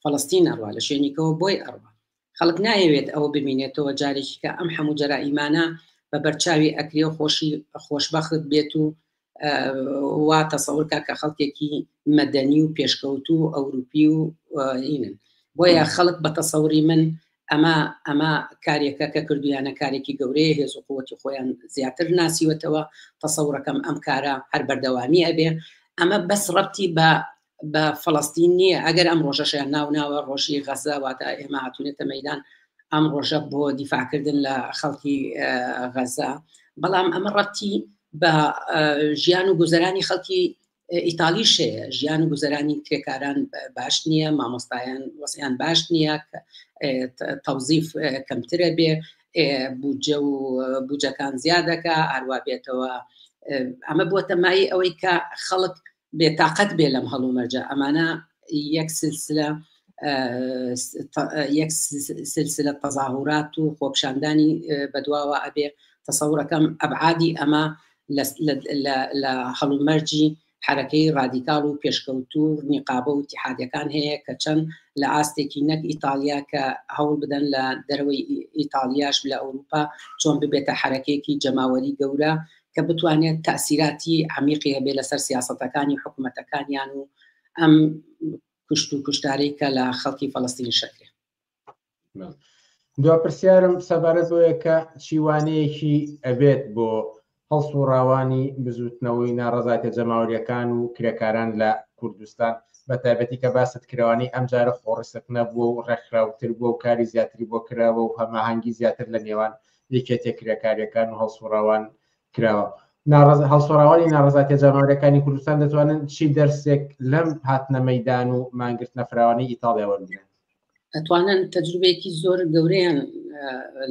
فەڵستین ئەڕوا لە شوێنیکەوە بۆی ئەڕوا خەڵک نایەوێت ئەوە ببینێتەوە جارێکی کە ئەم هەموو جەرا ئیمانە بە بەرچاوی ئەکرێ و خۆشی خۆشببخت بێت و وا تەسەورکە کە خەڵکێکی مەدەنی و پێشکەوتو ئەوروپی و ئینن بۆیە خەڵک بە تەسەوری من ئەمە ئەمە کارێکە کە کردویانە کارێکی گەورەیە هێز و قوتی خۆیان زیاتر ناسیوەتەوە تەسەورەکەم ئەم کارە هەر بەردەوامی ئەبێ ئەمە بەس ڕەتی بە بە فلستین نییە ئەگەر ئەم ڕۆژەشیان ناوناوە ڕۆژی غەزە واتە ئێمە هاتوونێتە مەدان ئەم ڕۆژە بۆ دیفاکردن لە خەڵکی غەزە بەڵام ئەمە ڕەتی بە ژیان و گوزەرانی خەڵکی ئیتالیش هەیە ژیان و گوزەرانی کرێکاران باش نییە مامۆستایان وەسیان باش نییە تەوزیف کەمترە بێ بودجە و بودجەکان زیادەکە هەروە بێتەوە ئەمە بۆ تەمایی ئەوەی کە خەڵک بێتاقەت بێ لەم هەڵو مەرجە ئەمانە یەک سلسلە یەک سلسلە تەزاهورات و خۆپشاندانی بەدواوە ئەبێ تەسەورەکەم ئەبعادی ئەمە لە هەڵومەرجی حەرەکەی ڕادیکاڵ و پێشکەوتوو نیقابە و ئیتیحادیەکان هەیە کە چەند لە ئاستێکی نەک ئیتاڵیا کە هەوڵ بدەن لە دەرەوەی ئیتاڵیاش لە ئەوروپا چۆن ببێتە حەرەکەیەکی جەماوەری گەورە کە بتوانێت تاسیراتی عمیقی هەبێ لەسەر سیاستەکانی حکوومەتەکانیان و ئەم کوشت و کوشتارەی کە لە خەڵکی فەڵستین شەکرێ دوا پرسیارم سەبارەت بۆیە کە چیوانەیەکی ئەبێت بۆ هەڵس و ڕاوانی بزوتنەوەی ناڕزایتە جەماوریەکان و کرێکاران لە کوردستان بە تایبەتی کە باست کرەوانی ئەم جارە خۆڕسک نەبووە و ڕێکخراوتر بووە و کاری زیاتری بۆ کراوە و هەماهنگگی زیاتر لە نێوان یەکێتە کرێکاریەکان و هەڵسوڕاوان کراوە ناڕز هەڵسوڕاوانی ناڕزاتە جامارەکانی کوردستان دەتوانن چی دەرسێک لەم هاتنە مەدان و مانگرتنە فراوانی ئیتاڵیا وەرگن ئەتوانن تەجروبێکی زۆر گەورەیان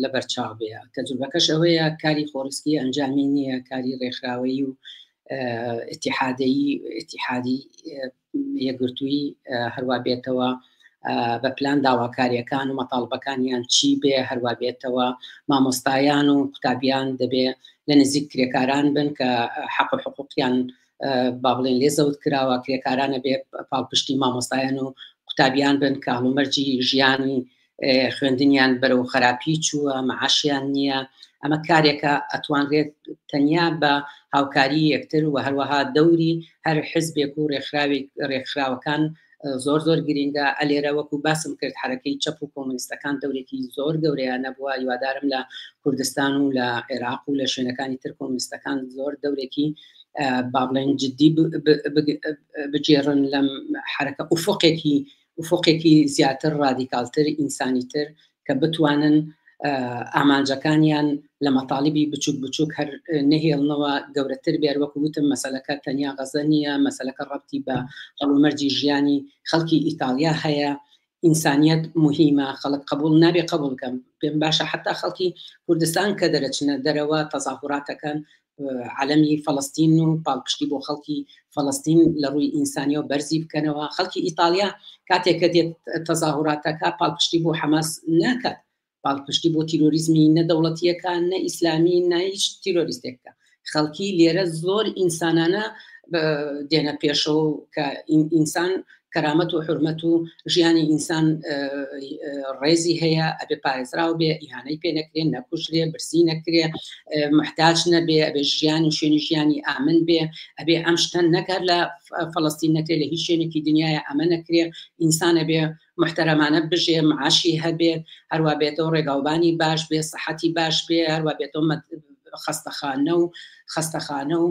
لە بەرچاو بێ تەجروبەکەش ئەوەیە کاری خۆرسکی ئەنجامی نییە کاری ڕێکخراوەیی و اتحادەیی اتحادی یەگرتووی هەروە بێتەوە بە پلان داواکاریەکان و مەتاڵبەکانیان چی بێ هەروە بێتەوە مامۆستایان و قوتابیان دەبێ لە نزیک کرێکاران بن کە حەق و حقوقیان با بڵێن لێ زەوت کراوە کرێکارانە بێ پاڵپشتی مامۆستایان و قوتابیان بن کە هەڵومەرجی ژیانی خوێندنیان بەرەو خراپی چووە معاشیان نییە ئەمە کارێکە ئەتوانرێت تەنیا بە هاوکاری یەکتر و هەروەها دەوری هەر حزبێک و ڕێکخراوی ڕێکخراوەکان زۆر زۆر گرینگە ئەلێرە وەکو باسم کرد حرەکەی چەپ و کۆمنیستەکان دەورێکی زۆر گەورەیان نەبووە یوادارم لە کوردستان و لە عێراق و لە شوێنەکانی تر کۆمنیستەکان زۆر دەورێکی با بڵێن جددی بگێڕن لەم حرەکە ئوفۆقێکی ئوفۆقێکی زیاتر ڕادیکالتر ئینسانی تر کە بتوانن ئامانجەکانیان لە مەتاالبی بچوک بچوک هەر نەهێڵنەوە گەورەتر بێر وەکو وتم مەسلەکە تەنیا غەزە نیە مەسلەکە ڕەتی بە هەڵومەرجی ژیانی خەڵکی ئیتالیا هەیە ئینسانیت مهمە خەڵک قبول نابێ قبولکەم پێم باشە حتا خەڵکی کوردستان کە دەرەچنە دەرەوە تەزاهوراتەکەن عەلەمی فەڵەستین و پاڵپشتی بۆ خەڵکی فەڵەستین لە ڕووی ئینسانیەوە بەرزی بکەنەوە خەڵکی ئیتالیا کاتێک کە دێت تەزاهوراتەکە پاڵپشتی بۆ حەماس ناکات پاڵپشتی بۆ تیرۆریزمی نە دەوڵەتیەکان نە ئیسلامی نایش تیرۆریستێکە خەڵکی لێرە زۆر ئینسانانە دێنە پێشەوە کە ئینسان کەرامەت و حورمەت و ژیانی ئینسان ڕێزی هەیە ئەبێ پارێزراو بێ ئیهانەی پێ نەکرێن نەکوژرێ برسی نەکرێ محتاج نەبێ ئەبێ ژیان و شوێنی ژیانی ئامن بێ ئەبێ ئەم شتەن نەکات لە فلستین نەکرێ لە هیچ شوێنێکی دنیاە ئەمە نەکرێ ئینسانە بێ محتەرەمانە بژێ معاشی هەبێ هەروە بێتەوە ڕێگاوبانی باش بێ سەحەتی باش بێ هەروە بێتەوە خەستەخانە و خەستەخانە و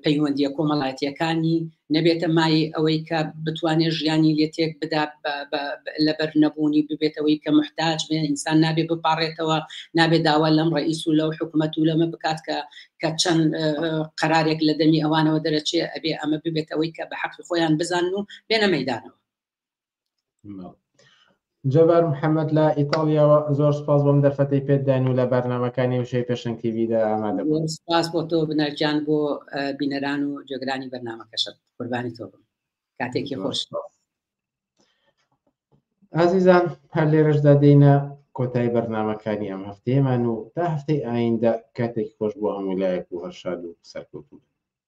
پەیوەندیە کۆمەڵایەتیەکانی نەبێتە مایەی ئەوەی کە بتوانێت ژیانی لێ تێک بدا لەبەر نەبوونی ببێتەوەی کە محتاج بێ ئینسان نابێ بپاڕێتەوە نابێ داوا لەم ڕئیس و لەو حکوومەت و لەمە بکات کە کە چەند قەرارێک لە دەمی ئەوانەوە دەرەچێ ئەبێ ئەمە ببێتەوەی کە بە حەقی خۆیان بزان و بێنە مەدانەوە جەبار محەممەد لە ئیتاڵیاوە زۆر سپاس بۆم دەرفەتی پێدان و لە بەرنمەکانی وشەی پێشنگ تیویدا ئامادە سپاس بۆ تۆ بنەرجان بۆ بینەران و جێگرانی بەرنمەکەشت قوربانی تۆ بم کاتێکی خۆش ئازیزان هەر لێرەشدا دێنە کۆتای بەرنمەکانی ئەم هەفتەیەمان و تا هەفتەی ئایندە کاتێک خۆش بۆ هەموو لایەک و هەرشاد و سەرکەوتوو